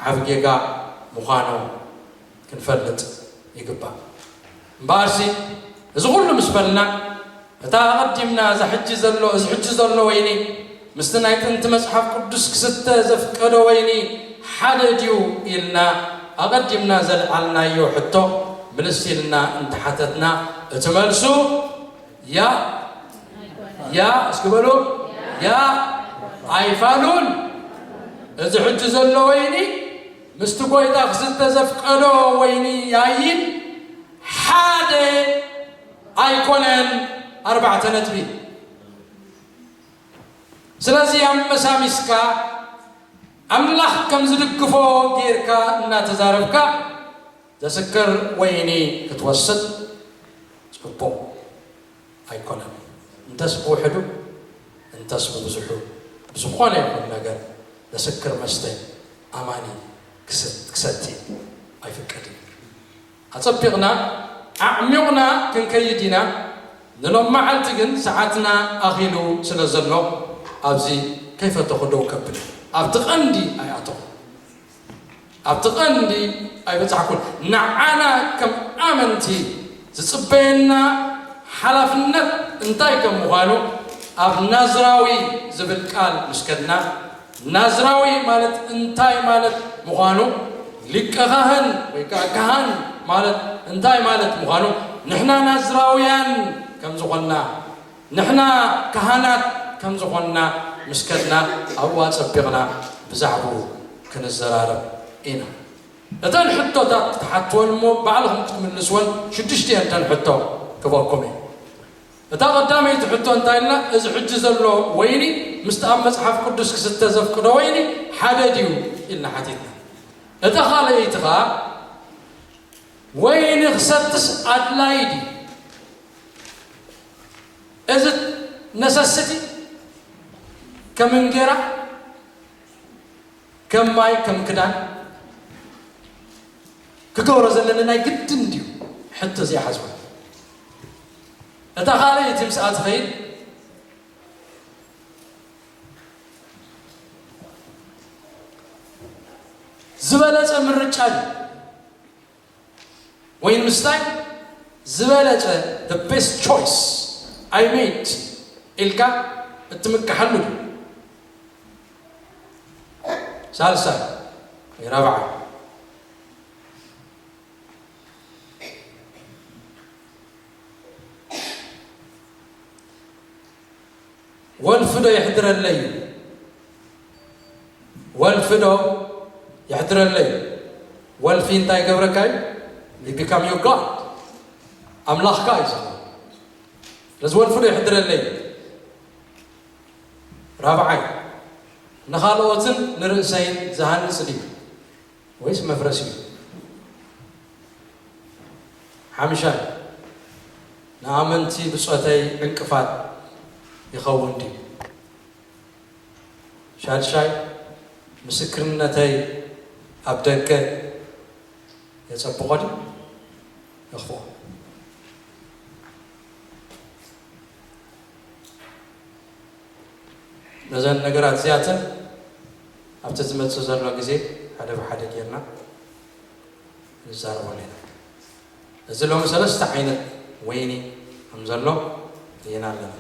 ዓቢ ጌጋ ምዃኑ ክንፈልጥ ይግባእ። እምበኣርሲ እዚ ኹሉ ምስ በልና እታ ኣቐዲምና እዛ ሕጂ ዘሎ እዚ ሕጂ ዘሎ ወይኒ ምስቲ ናይ ጥንቲ መጽሓፍ ቅዱስ ክስተ ዘፍቀዶ ወይኒ ሓደ ድዩ ኢልና ኣቐዲምና ዘልዓልናዮ ሕቶ ምልስ ኢልና እንተ ሓተትና እቲ መልሱ ያእ ያእ እስኪ በሉ ያእ ኣይፋሉን እዚ ሕጂ ዘሎ ወይኒ ምስቲ ጐይታ ክስተ ዘፍቀዶ ወይኒ ያይን ሓደ ኣይኰነን ኣርባዕተ ነጥቢ። ስለዚ ኣመሳሚስካ ኣምላኽ ከም ዝድግፎ ጌርካ እናተዛረብካ ዘስክር ወይኒ ክትወስድ ጽቡቕ። ኣይኮነን። እንተስ ብውሕዱ እንተስ ብብዙሑ ብዝኾነ ይኹን ነገር ዘስክር መስተ ኣማኒ ክሰቲ ኣይፍቀድን እዩ። ኣጸቢቕና ኣዕሚቑና ክንከይድ ኢና፣ ንሎምመዓልቲ ግን ሰዓትና ኣኺሉ ስለ ዘሎ ኣብዚ ከይፈተኹ ደው ከብል እየ። ኣብቲ ቀንዲ ኣይኣተኹን። ኣብቲ ቀንዲ ኣይበጻሕኩን። ንዓና ከም ኣመንቲ ዝጽበየና ሓላፍነት እንታይ ከም ምዃኑ ኣብ ናዝራዊ ዝብል ቃል ምስ ከድና፣ ናዝራዊ ማለት እንታይ ማለት ምዃኑ፣ ሊቀ ኻህን ወይ ከኣ ከሃን ማለት እንታይ ማለት ምዃኑ፣ ንሕና ናዝራውያን ከም ዝኾንና፣ ንሕና ካህናት ከም ዝኾንና ምስ ከድና ኣብኡ ኣጸቢቕና ብዛዕባኡ ክንዘራረብ ኢና። እተን ሕቶታት ክትሓትወን እሞ ባዕልኹም ክትምልስወን ሽዱሽተ እየን እተን ሕቶ ክበኩም እየ። እታ ቀዳመይቲ ሕቶ እንታይ እላ እዚ ሕጂ ዘሎ ወይኒ ምስቲ ኣብ መጽሓፍ ቅዱስ ክስተ ዘፍቅዶ ወይኒ ሓደ ድዩ ኢልና ሓቲትና። እታ ካልኣይቲ ከኣ ወይኒ ክሰትስ ኣድላዪ ድዩ? እዚ ነሰሲቲ ከም እንጌራ ከም ማይ ከም ክዳን ክገብሮ ዘለኒ ናይ ግድን እንድዩ ሕቶ እዚኣ ሓዝዋ እታ ካልኣይቲ ምስኣ ዝኸይድ ዝበለጸ ምርጫ እዩ ወይን ምስታይ ዝበለጸ the best choice I made ኢልካ እትምከሓሉ ድዩ? ሳልሳይ ወይ ራብዓይ ወልፊ ዶ የሕድረለይ ወልፊ ዶ የሕድረለይ ወልፊ እንታይ ገብረካ እዩ ዩ ቢካም ዩ ጋድ ኣምላኽካ እዩ ዝኾን ስለዚ ወልፊ ዶ የሕድረለይ ራብዓይ ንኻልኦትን ንርእሰይን ዝሃንፅ ድዩ ወይስ መፍረስ እዩ? ሓምሻይ፣ ንኣመንቲ ብጾተይ ዕንቅፋት ይኸውን ድዩ? ሻድሻይ፣ ምስክርነተይ ኣብ ደገ የጸብቖ ድዩ የኽፍኦ? ነዘን ነገራት እዚኣተን ኣብቲ ዝመጽእ ዘሎ ግዜ ሓደ ብሓደ ጌርና ክንዛረበሉ ኢና። እዚ ሎሚ ሰለስተ ዓይነት ወይኒ ከም ዘሎ ርኢና ኣለና።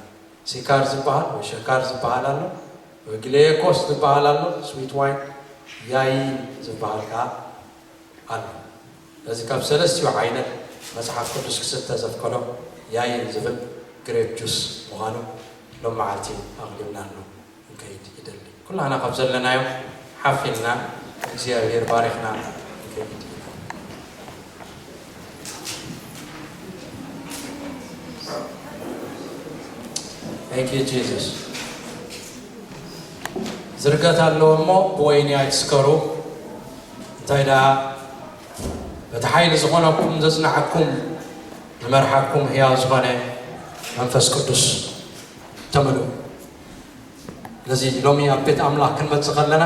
ሲካር ዝበሃል ወይ ሽካር ዝበሃል ኣሎ፣ ወይ ግሌየኮስ ዝበሃል ኣሎ፣ ስዊት ዋይን፣ ያይን ዝበሃል ከኣ ኣሎ። ነዚ ካብ ሰለስቲኡ ዓይነት መጽሓፍ ቅዱስ ክስተ ዘፍቀዶ ያይን ዝብል ግሬፕ ጁስ ምዃኑ ሎም መዓልቲ ኣቕሊብናሉ ክንከይድ ይደሊ። ኩላህና ካብ ዘለናዮ ሓፍ ኢልና እግዚኣብሔር ባሪኽና ክንከይድ Thank you Jesus ዝርገት ኣለዎ እሞ ብወይኒ ኣይትስከሩ። እንታይ ደኣ በቲ ሓይሊ ዝኾነኩም ዘጽንዓኩም ንመርሓኩም ሕያው ዝኾነ መንፈስ ቅዱስ ተመልኡ። ስለዚ ሎሚ ኣብ ቤት ኣምላኽ ክንመጽእ ከለና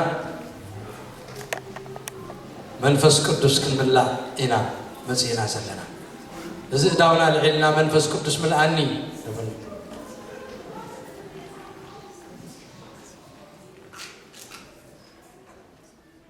መንፈስ ቅዱስ ክንምላእ ኢና መጺእና ዘለና። እዚ እዳውና ልዒልና መንፈስ ቅዱስ ምልኣኒ ንብል።